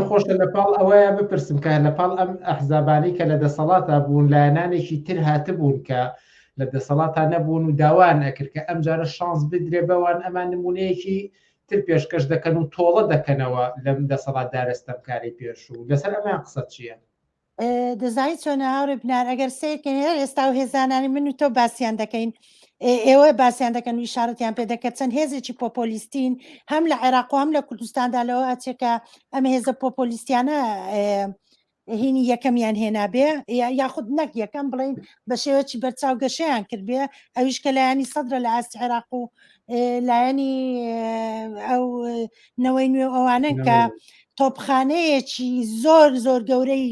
خۆش لە پاڵ ئەوەیە بپرسم کە لە پاڵ ئەم ئەحزابانی کە لە دەسەڵاتە بوون لایەنانێکی تر هاتبوون کە لە دەسەڵاتان نەبوون و داوان ئەکرد کە ئەم جارە شانس بدرێ بەوان ئەمان نمونەیەکی تر پێشکەش دەکەن و تۆڵە دەکەنەوە لەم دەسەڵات دارستەکاری پێشوو لەسەر ئەمان قسە چییە؟ دەزانی چۆنە هاوڕێ بنار ئەگەر سیرکەین هەر ئێستا و هێزانانی من و تۆ باسییان دەکەین ئێوە باسییان دەکەن و شارەتیان پێ دەکە چەند هێزێکی پۆپۆلیستین هەم لە عێراق و هەم لە کوردستاندا لەوە ئەچێکە ئەم هێزە پۆپۆلیستیانە هینی یەکەمیان هێنابێ یاخود نەک یەکەم بڵین بە شێوەی بەرچاو گەشیان کردبێ ئەویش کە لایەنی سەدرە لە ئاست عێراق و لایەنی ئەو نەوەی نوێ ئەوانن کە تۆپخانەیەکی زۆر زۆر گەورەی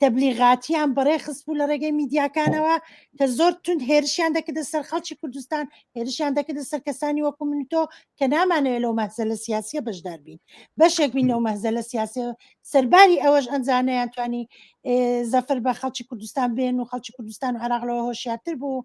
تەبلیغاتیان بەڕێ خست بوو لە ڕێگەی میدیاکانەوە کە زۆر تونند هێرشیان دەکردە سەر خەڵکی کوردستان هێرشیان دەکردە سەر کەسانی وەکو من تۆ کە نامانەوێت لەو مەزە لە سیاسیە بەشدار بین بەشێک بین لەو مەزە لە سیاسی سەرباری ئەوەش ئەنجانیان توانی زەفر بە خەڵکی کوردستان بێن و خەڵکی کوردستان و عراق لەوە هۆشیاتر بوو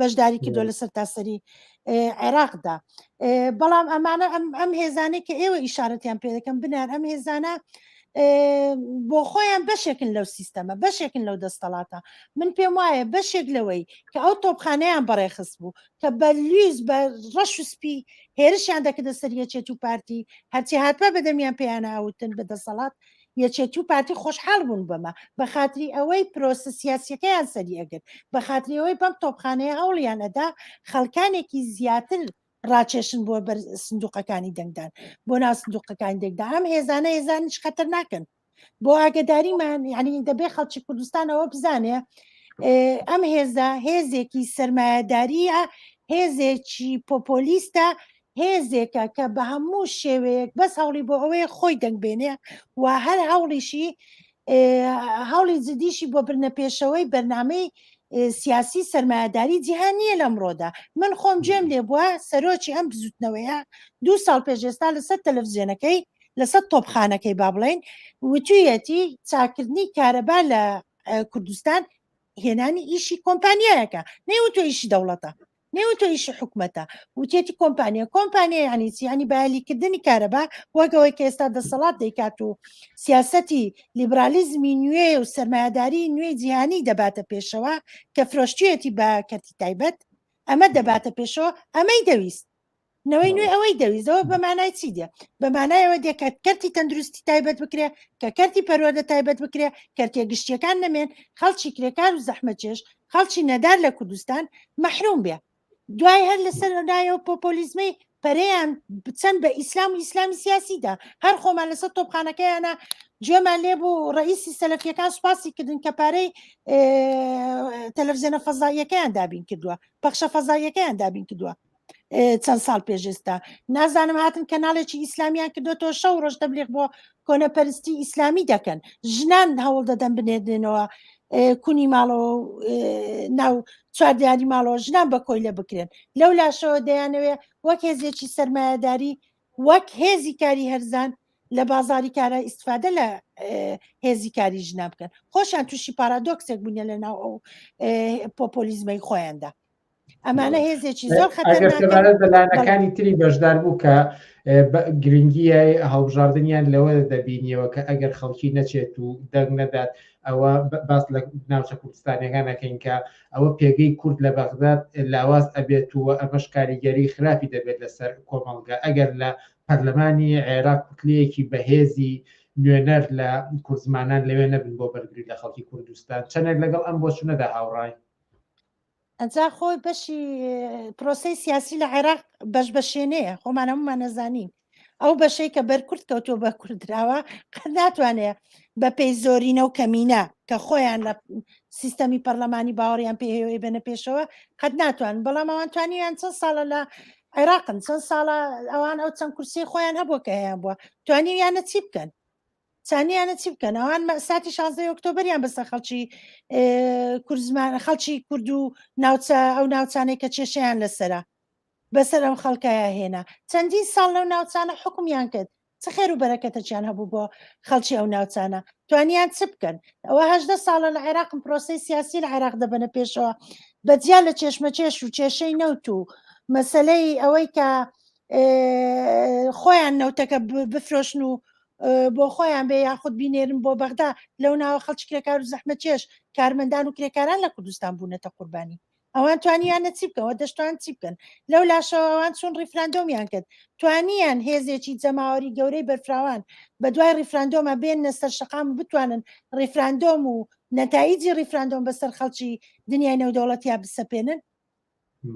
بەشداری کردو لە سەرتاسەری عێراقدا بەڵام ئەمانە ئەم هێزانێک کە ئێوە ئیشارەتیان پێ دەکەم بنار ئەم هێزانە بۆ خۆیان بەشێکن لەو سیستەمە بەشێکن لەو دەستەڵاتە من پێم وایە بەشێک لەوەی کە ئەو تۆپخانەیان بەڕێخست بوو کە بە لویز بە ڕەش و سپی هێرشیان دەکردە سەریەچێت و پارتی هەرچی هاتوە بەدەمیان پێیانە ئەوتن بە دەسەڵات یەکێتی و پارتی خۆشحاڵ بوون بەمە بە خاتری ئەوەی پرۆسە سیاسیەکەیان سەری ئەگرت بە خاتری ئەوەی بەم تۆپخانەیە هەوڵیان ئەدا خەڵکانێکی زیاتر ڕاکێشن بۆ بەر سندوقەکانی دەنگدان بۆ ناو سندوقەکانی دەنگدا ئەم هێزانە هێزانیش خەتەر ناکەن بۆ ئاگداریمان یعنی دەبێ خەڵکی کوردستانەوە بزانێ ئەم هێزە هێزێکی سرمایهداریە هێزێکی پۆپۆلیستە هێزێکە کە بە هەموو شێوەیەک بەس هەوڵی بۆ ئەوەیە خۆی دەنگ بێنێ و هەر هەوڵیشی هەوڵی جدیشی بۆ برنە پێشەوەی بەرنمەی سیاسی سرمایهداری جیهان نییە لەمڕۆدا من خۆم جێم لێ بووە سەرۆکی ئەم بزوتنەوەیە دو ساڵ پێشێستا لەسەر تەلەڤزیۆنەکەی لەسەر تۆپخانەکەی با بڵین وتویەتی چاکردنی کارەبا لە کوردستان هێنانی ئیشی کۆمپانیایەکە نەیوتۆ ئیشی دەوڵەتە نێو تۆ ئیشی حکومەتە وتێتی کۆمپانیا کۆمپانیا یعنی چی ینی بایلیکردنی کارەبا وەگەوەی کە ئێستا دەسەڵات دەیکات و سیاستی لیبرالیزمی نوێ و سرمایهداری نوێی جیهانی دەباتە پێشەوە کە فرۆشتێتی بە کەرتی تایبەت ئەمە دەباتە پێشەوە ئەمەی دەویست نەوەی نوێ ئەوەی دەویستەوە بە مانای چی دێ بە مانایەوە دێکات کەرتی تەندروستی تایبەت بکرێ کە کەرتی پەروەدە تایبەت بکرێ کەرتێ گشتیەکان نەمێن خەڵکی کرێکار و زەحمەچێش خەڵکی نەدار لە کوردستان مەحروم بێ دوای هەر لەسەر لایەوە پۆپۆلیزمەی پەریان بچەند بە ئیسلام و ئیسلامی سیاسیدا هەر خۆمان لەسەر تۆپخانەکەیانە گوێمان لێ بوو ڕئیسی سەلفیەکان سوپاسی کردن کە پارەی تەلەڤزیۆنە فەزاییەکەیان دابین کردووە پەخشە فەزاییەکەیان دابین کردووە چەند ساڵ پێش ئێستا نازانم هاتن کەناڵێکی ئیسلامیان کردوەوە شەو ڕۆژ دەبلێک بۆ کۆنەپەرستی ئیسلامی دەکەن ژنان هەوڵ دەدەن بنێدنەوە کونی ماڵەوە ناو چواردیاری ماڵەوە ژنان بە کۆیلە بکرێن لەو لاشەوە دەیانەوێ وەک هێزێکی سرمایهداری وەک هێزی کاری هەرزان لە بازاری کارە ئیسفادە لە هێزی کاری ژنا بکەن خۆشیان تووشی پارادۆکسێک بوونە لە ناو ئەو پۆپۆلیزمەی خۆیاندا ئەمانە هێزێکی زۆر خەتەرەکانی تری بەشدار بوو کە گرنگیە هەڵبژاردنیان لەوە دەبینیەوە کە ئەگەر خەڵکی نەچێت و دەنگ نەدات ئەوە باس لە ناوچە کوردستانەکانەکەین کە ئەوە پێگەی کورد لە بەغداد لاواز ئەبێت و ئەمەش کاریگەری خراپی دەبێت لەسەر کۆمەڵگە ئەگەر لە پەرلەمانی عێراق کوتلەیەکی بەهێزی نوێنەر لە کوردزمانان لەوێ نەبن بۆ بەرگری لە خەڵکی کوردستان چەندێک لەگەڵ ئەم بۆچونەدا هاوڕای جا خۆ بەشی پرۆسەی سیاسی لە عێراق بەش بەشێنەیە خۆمان هەمومان نەزانین ئەو بەشەی کە بەرکرد کەوتۆ بە کوردراوە قەت ناتوانێت بە پێی زۆرینە و کەمینە کە خۆیان لە سیستەمی پەرلەمانی باوەڕیان پێهێوەی بەنە پێشەوە قەت ناتوان بەڵام ئەوان توانیان چەند ساڵە لە عێراقن چەند ساڵە ئەوان ئەو چەند کورسی خۆیان هەبووە کە هەیە بووە توانیویانە چی بکەن سانیانە چی بکەن ئەوان مەساتی شازدە ئۆکتۆبریان بەسە خەڵکی کوردزمان خەڵکی کورد و ناوچە ئەو ناوچانەی کە کێشیان لەسرە بەسەر ئەم خەڵکایە هێنا چەندین ساڵ لەو ناوچانە حکومیان کرد چ خێر و بەرەکەتەچیان هەبوو بۆ خەڵکی ئەو ناوچانە توانیان چ بکەن ئەوە هەدە ساڵە لە عێراقم پرۆسی سیاسی لە عێراق دەبنە پێشەوە بەجیا لە چێشمە چێش و کێشەی نەوت و مەسلەی ئەوەی کە خۆیان نەوتەکە بفرۆشن و بۆ خۆیان بێ یاخود بینێرن بۆ بەغدا لەو ناوە خەڵکی کرێکار و زەحمەتێش کارمەندان و کرێکاران لە کوردستان بوونەتە قوربانی ئەوان توانیانە چی بکەوە دەشتوان چی بکەن لەو لاشەوەوان چون ریفراندۆمیان کرد توانیان هێزێکی جەماوەری گەورەی بەرفراوان بە دوای ریفراندۆمە بێنە سەر شقام بتوانن ریفراندۆم و نەتایجی ریفراندۆم بەسەر خەڵکی دنیای نەودەوڵەتیا بسەپێنن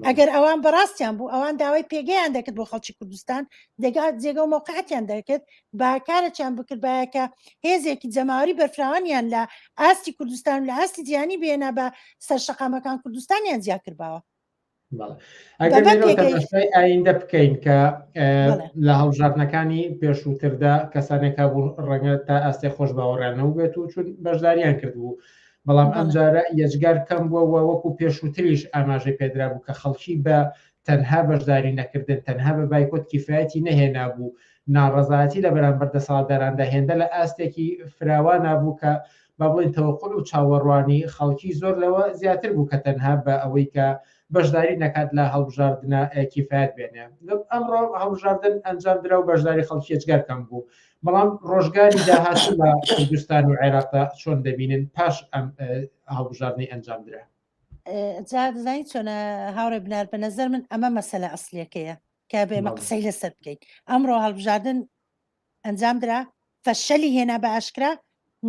ئەگەر ئەوان بەڕاستیان بوو ئەوان داوای پێگەیان دەکرد بۆ خەڵکی کوردستان دەگا جێگە و مۆقعاتیان دەکرد باکارەچیان بکرد باەکە هێزێکی جەماوەری بەرفراوانیان لە ئاستی کوردستان لە ئاستی جیانی بێنە بە سەر شقامەکان کوردستانیان جیاکردباوە ئایندە بکەین کە لە هەڵژاتنەکانی پێشووتردا کەسانێکا بوو ڕەنگە تا ئاستی خۆش باوەڕیانەوە بێت و چون بەشداریان کردبوو بەڵام ئەمجارە یەجگار کەم بووە و وەکو پێشووتریش ئاماژەی پێدرابوو کە خەڵکی بە تەنها بەشداری نەکردن تەنها بە بایکۆت کیفایەتی نەهێنابوو ناڕەزایەتی لە بەرامبەر دەسەڵاتداراندا هێندە لە ئاستێکی فراوانا بوو کە با بڵێن تەوەقل و چاوەڕوانی خەڵکی زۆر لەوە زیاتر بوو کە تەنها بە ئەوەی کە بەشداری نەکات لە هەڵبژاردنە کیفاەت بێنێ ئەمڕۆ هەڵبژاردن ئەنجام درا و بەشداری خەڵکیێجگەر کەم بوو بەڵام ڕۆژگاری داهات لە کوردستان و عێراقدا چۆن دەبینن پاش ئەم هەڵبژاردنی ئەنجام درا جادزانی چۆنە هاوڕێ بنار بە نەزەر من ئەمە مەسەلە ئەسلەکەیە کە بێمە قسەی لەسەر بکەیت ئەمڕۆ هەڵبژاردن ئەنجام درا فەشەلی هێنا بە ئاشکرا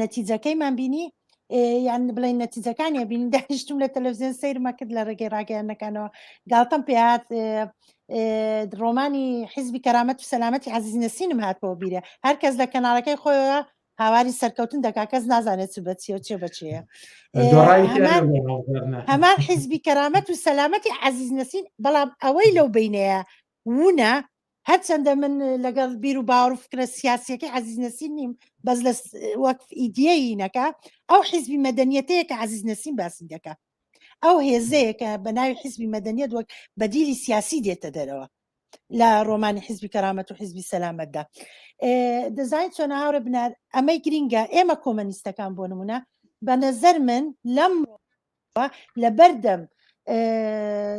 نەتیجەکەیمان بینی یان بڵێن نەتیجەکانی بین داشتم لە تەلەڤزیۆن سیرمە کرد لە ڕێگەی ڕاگەیانەکانەوە گاڵتەم پێات ڕۆمانی حیزبی کەرامەت و سەلامەتی عزیز نسینم هاتەوە بیرە هەرکەس لە کەناڵەکەی خۆیەوە هاواری سەرکەوتن دەکا کەس نازانێت چ بەچیە و چێ بەچەیە هەمان حیزبی کەرامەت و سەلامەتی عزیز نسین بەڵام ئەوەی لەو بینەیە وونە هەرچەندە من لەگەڵ بیر و باوەڕ فکرە سیاسیەکەی عزیز نەسیم نیم بەس لە وەک ئیدیەی نەکە ئەو حیزبی مەدەنیەتەیە کە عزیز نەسیم باسی دەکە ئەو هێزەیە کە بە ناوی حیزبی مەدەنیت وەک بەدیلی سیاسی دێتە دەرەوە لە ڕۆمانی حیزبی کەرامەت و حیزبی سەلامەتدا دەزانین چۆن هاورە بنار ئەمەی گرینگە ئێمە کۆمەنیستەکان بۆ نمونە بە نەزەر من لەم لەبەردەم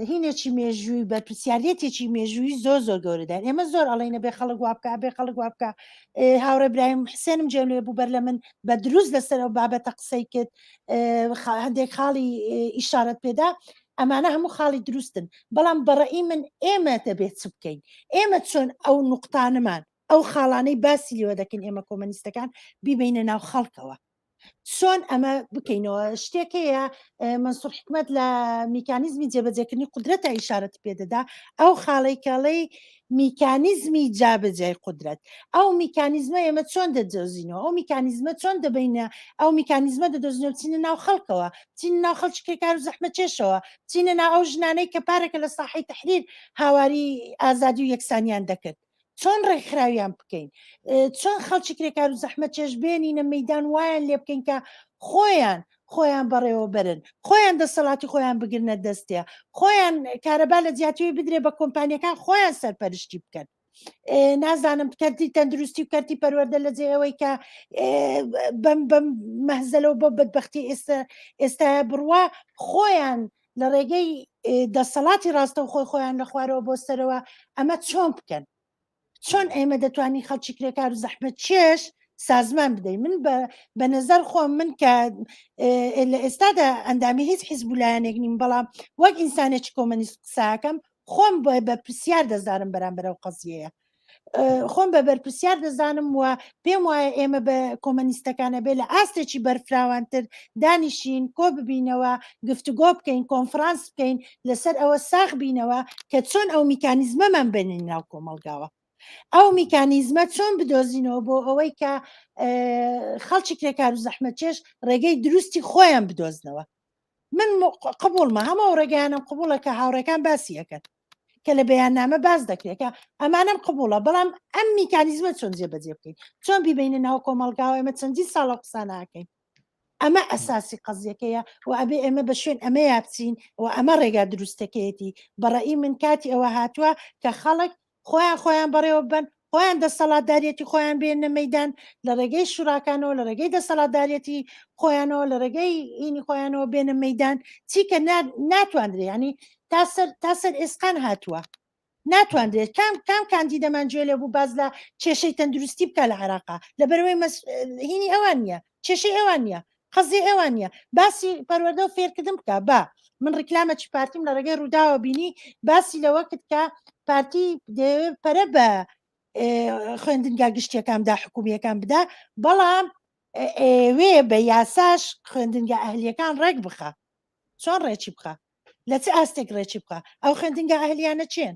هینێکی مێژووی بەرپسیارەتێکی مێژووی زۆر زۆر گەورەدا ئێمە زۆر ئەڵێنە بێ خەڵک وابکە بێ خەڵک وابکە هاوڕێ برایم حسێنم جێنێ بوو بەر لە من بە دروست لەسەر ئەو بابەتە قسەی کرد هەندێک خاڵی ئیشارەت پێدا ئەمانە هەموو خاڵی دروستن بەڵام بەڕئی من ئێمە دەبێت چ بکەین ئێمە چۆن ئەو نقطانمان ئەو خاڵانەی باسی لێوە دەکەین ئێمە کۆمەنیستەکان بیبینە ناو خەڵکەوە چۆن ئەمە بکەینەوە شتێک هەیە منسوور حکومت لە میکانیزمی جێبەجێکردنی قدرەتە ئیشارەت پێدەدا ئەو خاڵی کاڵی میکانیزمی جابەجای قدرەت ئەو میکانیزمە ئێمە چۆن دەدۆزینەوە ئەو میکانیزمە چۆن دەبینە ئەو میکانیزمە دەدۆزینەوە چینە ناو خەڵکەوە چین ناو خەڵچکە کار و زەحمە چێشەوە چینە ناو ئەو ژنانەی کە پارەکە لە ساحی تحریر هاواری ئازادی و یەکسانیان دەکرد چۆن ڕێکخراویان بکەین چۆن خەڵکی کرێکار و زەحمە چێش بێنینە مەدان وایان لێ بکەین کە خۆیان خۆیان بەڕێوە برن خۆیان دەسەڵاتی خۆیان بگرنە دەستێ خۆیان کارەبا لە جیاتوی بدرێ بە کۆمپانیەکان خۆیان سەرپەرشتی بکەن نازانم کەرتی تەندروستی و کەرتی پەروەەردە لە جێ ئەوەی کە بەم بەم مەهزەلەوە بۆ بەدبختی ئێستا ئێستا بڕوا خۆیان لە ڕێگەی دەسەڵاتی ڕاستەوخۆی خۆیان لە خوارەوە بۆ سەرەوە ئەمە چۆن بکەن چۆن ئێمە دەتوانین خەڵکی کرێکار و زەحمە چێش سازمان بدەین من بە نظر خۆم من کە لە ئێستادا ئەندامی هیچ حیزب لایەنێک نیم بەڵام وەک ئینسانێکی کۆمەنیست قساکەم خۆم بە پرسیار دەزانم بەرامبەرە و قەزیەیە خۆم بە بەرپرسیار دەزانم و پێم وایە ئێمە بە کۆمەنیستەکانە بێ لە ئاستێکی بەرفراوانتر دانیشین کۆ ببینەوە گفتوگۆ بکەین کۆنفرانس بکەین لەسەر ئەوە ساخ بینەوە کە چۆن ئەو میکانیزمەمان بنین ناو کۆمەلگاوە ئەو میکانیزمە چۆن بدۆزینەوە بۆ ئەوەی کە خەڵکی کرێکار و زەحمە چێش ڕێگەی دروستی خۆیان بدۆزنەوە من قبولمە هەمە ڕێگەیانم قبولە کە هاوڕێکان باسیەکەن کە لە بەیاننامە باز دەکرێت کە ئەمانم قبوڵە بەڵام ئەم میکانیزمە چۆن جێبەجێ بکەین چۆن بیبینە ناو کۆمەلگاوە ئەمە چەندین ساڵە قساناکەین ئەمە ئەساسی قەزیەکەیە و ئەبێ ئێمە بە شوێن ئەمە یابچین و ئەمە ڕێگا دروستەکەیەتی بەڕی من کاتی ئەوە هاتووە کە خەڵک خۆیان خۆیان بەڕێوە بن خۆیان دەستەڵاتداریەتی خۆیان بێنە مەدان لە ڕێگەی شوراکانەوە لە ڕێگەی دەستەڵاتداریەتی خۆیانەوە لە ڕێگەی ئینی خۆیانەوە بێنە مەدان چیکە ناتواندرێ ینی تا سەر تا سەر ئێسقان هاتووە ناتواندرێت کام کام کاندی دەمانجوێ لە بوو باز لە کێشەی تەندروستی بکە لە عراقا لە بەرەوەی هینی ئەوان نیە کێشەی ئێوان نیە قەزی ئێوان نیە باسی پەروەدە و فێرکردن بکە با من ڕیکلامە چی پارتیم لە ڕێگەی ڕووداوە بینی باسی لەوە کرد کە پارتی پەرە بە خوێندنگا گشتیەکاندا حکومیەکان بدا بەڵام ئێوێ بە یاساش خوێندنگە ئەهلیەکان ڕێک بخە چۆن ڕێکی بخە لە چ ئاستێک ڕێکی بخە ئەو خوێندنگە ئەهلیانە چێن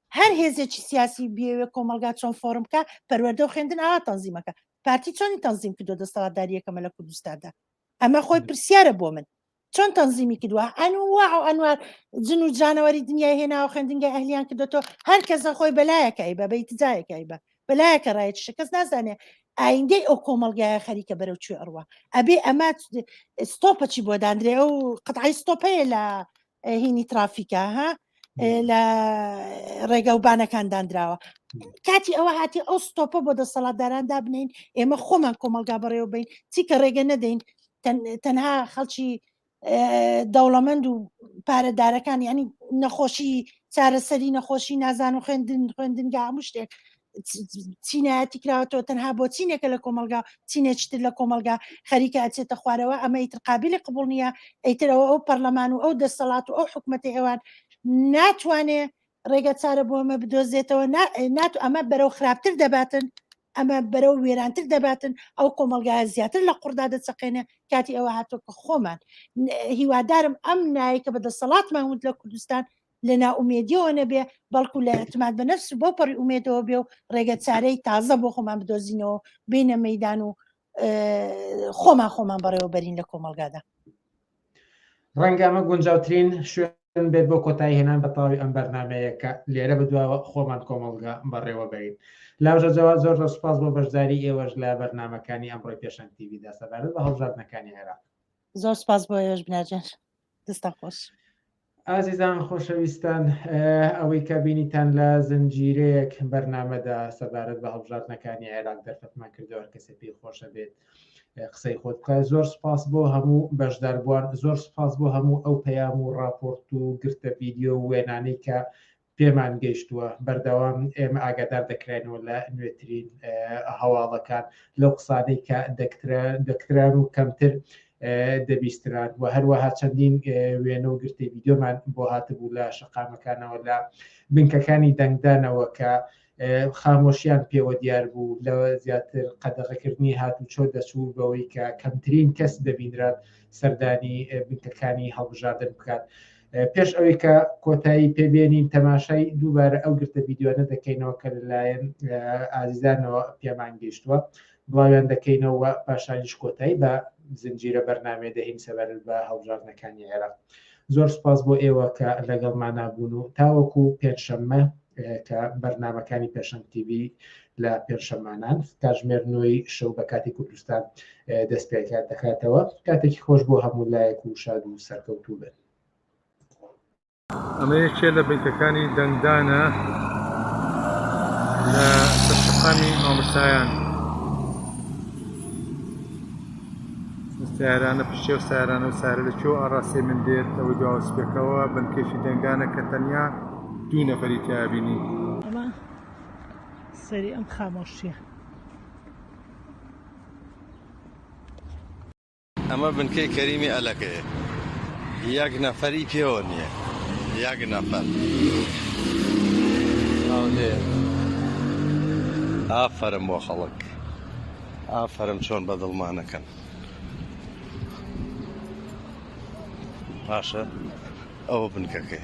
هەر هێزێکی سیاسی بێوێ کۆمەلگا چۆن فۆرم بکە پەروەردە و خوێندن ئاوا تەنزیمەکە پارتی چۆنی تەنزیم کردو دەستەڵاتداریەکەمە لە کوردستاندا ئەمە خۆی پرسیارە بۆ من چۆن تەنزیمی کردووە ئەنووا و ئەنوار جن و جانەوەری دنیای هێناوە خوێندنگای ئەهلیان کردێتەوە هەر کەسە خۆی بەلایەکای بە بەیت جایەکای بە بەلایەکە ڕایەت شکەس نازانێ ئایندەی ئەو کۆمەلگایە خەریکە بەرەو کوێ ئەڕوە ئەبێ ئەمە ستۆپەچی بۆ دانرێ ئەو قەتعی ستۆپەیە لە هینی ترافیکە ها لە ڕێگە و بانەکان دانراوە کاتی ئەوە هاتی ئەو ستۆپە بۆ دەسەڵاتداران دابنین ئێمە خۆمان کۆمەلگا بەڕێوە بین چی کە ڕێگە نەدەین تەنها خەڵکی دەوڵەمەند و پارەدارەکان ینی نەخۆشی چارەسەری نەخۆشی نازان و خوێندن خوێندنگا هەموو شتێک چینایەتی کراوەەوە تەنها بۆ چینێکە لە کۆمەلگا چینێکتر لە کۆمەلگا خەریکە ئەچێتە خوارەوە ئەمە ئیتر قابلی قبول نییە ئەیترەوە ئەو پەرلەمان و ئەو دەسەڵات و ئەو حکوومەتی ئێوان ناتوانێ ڕێگە چارە بۆ ئەمە بدۆزێتەوە نات ئەمە بەرەو خراپتر دەباتن ئەمە بەرەو وێرانتر دەباتن ئەو کۆمەلگا زیاتر لە قڕدا دەچەقێنێ کاتی ئەوە هاتۆکە خۆمان هیوادارم ئەم نایکە بە دەسەڵاتمان وت لە کوردستان لە نائومێدیەوە نەبێ بەڵکو لە ئەتماد بە نفس بۆ پەڕی ئومێدەوە بێ و ڕێگە چارەی تازە بۆ خۆمان بدۆزینەوە بینە مەدان و خۆمان خۆمان بەڕێوەبەرین لە کۆمەلگادا ڕەنگامە گونجاوترین شوێن بێت بۆ کۆتایی هێنان بە تەواوی ئەم بەرنمەیە کە لێرە بدواوە خۆمان کۆمەلگا بەڕێوە بەرین لاژە جواب زۆر زۆر سپاس بۆ بەشداری ئێوەش لە بەرنمەکانی ئەمڕۆی پێشەنگ تیویدا سەبارەت بە هەڵبژاردنەکانی عێراق زۆر سپاس بۆ ئێوەش بناجێن دەستان خۆش ئازیزان خۆشەویستان ئەوەی کە بینیتان لە زنجیرەیەک بەرنمەدا سەبارەت بە هەڵبژاردنەکانی عێراق دەرفەتمان کردەوە کەسە پێی خۆشە بێت قسەی خۆت بکە زۆر سپاس بۆ هەموو بەشداربووان زۆر سپاس بۆ هەموو ئەو پەیام و راپۆرت و گرتە ڤیددیو وێنانەی کە پێمان گەیشتووە بەردەوام ئێمە ئاگادار دەکراینەوە لە نوێترین هەواڵەکان لەو قسانەی کە دەکتران و کەمتر دەبیستران و هەروەها چەندین وێنە و گرتی ویددیۆمان بۆ هاتبوو لە شقامەکانەوە لە بنکەکانی دەنگدانەوە کە خامۆشیان پێوە دیار بوو لە زیاتر قەدەغەکردنی هاتوچۆ دەچوو بەوەی کە کەمترین کەس دەبینرات سەردانی بنکەکانی هەڵبژاردن بکات. پێش ئەوەی کە کۆتایی پێبێنین تەماشای دووبارە ئەو گرتە یددیوانە دەکەینەوە کە لەلایەن ئازیزانەوە پێمان گەیشتووە بڵاویان دەکەینەوە و پاشانیش کۆتایی بە زنجیرە بەرنامەیە دەهین سەبارەت بە هەڵبژاردنەکانی عێراق. زۆر سوپاس بۆ ئێوە کە لەگەڵمانا بوون و تاوەکو پێنجشەممە کە بەرنامەکانی پێشەنگ تیڤی لە پێنجشەممانان کاتژمێر نۆی شەو بە کاتی کوردستان دەست پێکات دەکاتەوە کاتێکی خۆش بۆ هەموو لایەک و شاد و سەرکەوتوو بن. ئەمە یەکێ لە بنکەکانی دەنگدانە لە سەرشەقامی مامۆستایان سیارانە پشتێ و سارانە و سارە لە چۆ ئاڕاستێ من دێت ئەوەی دواوسپێکەوە بنکێکی دەنگدانە کە تەنیا دوو نەفەری تیابینی ئەمە سەری ئەم خامۆشیە ئەمە بنکەی کەریمی ئەلەکەیە یەک نەفەری پێوە نییە یەک نەفەر ئافەرم بۆ خەڵک ئافەرم چۆن بە دڵمانەکەن باشە ئەوە بنکەکەی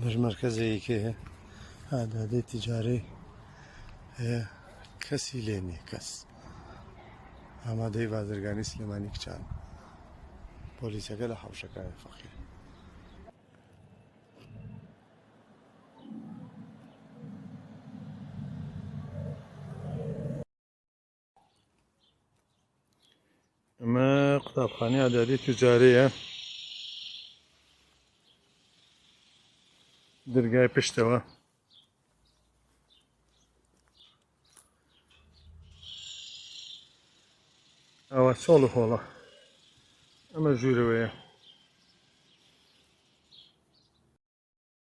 بەش مەرکەزەیەکێ ئادادەی تجارەی هەیە کەسی لێ نیە کەس ئامادەی بازرگانی سلێمانی کچان پۆلیسەکە لە حوشەکان فەقیر ئەمە قوتابخانەی ئاداری تجارەیە درگای پشتەوە ئەوە چۆڵ و هۆڵە ئەمە ژوورەوەیە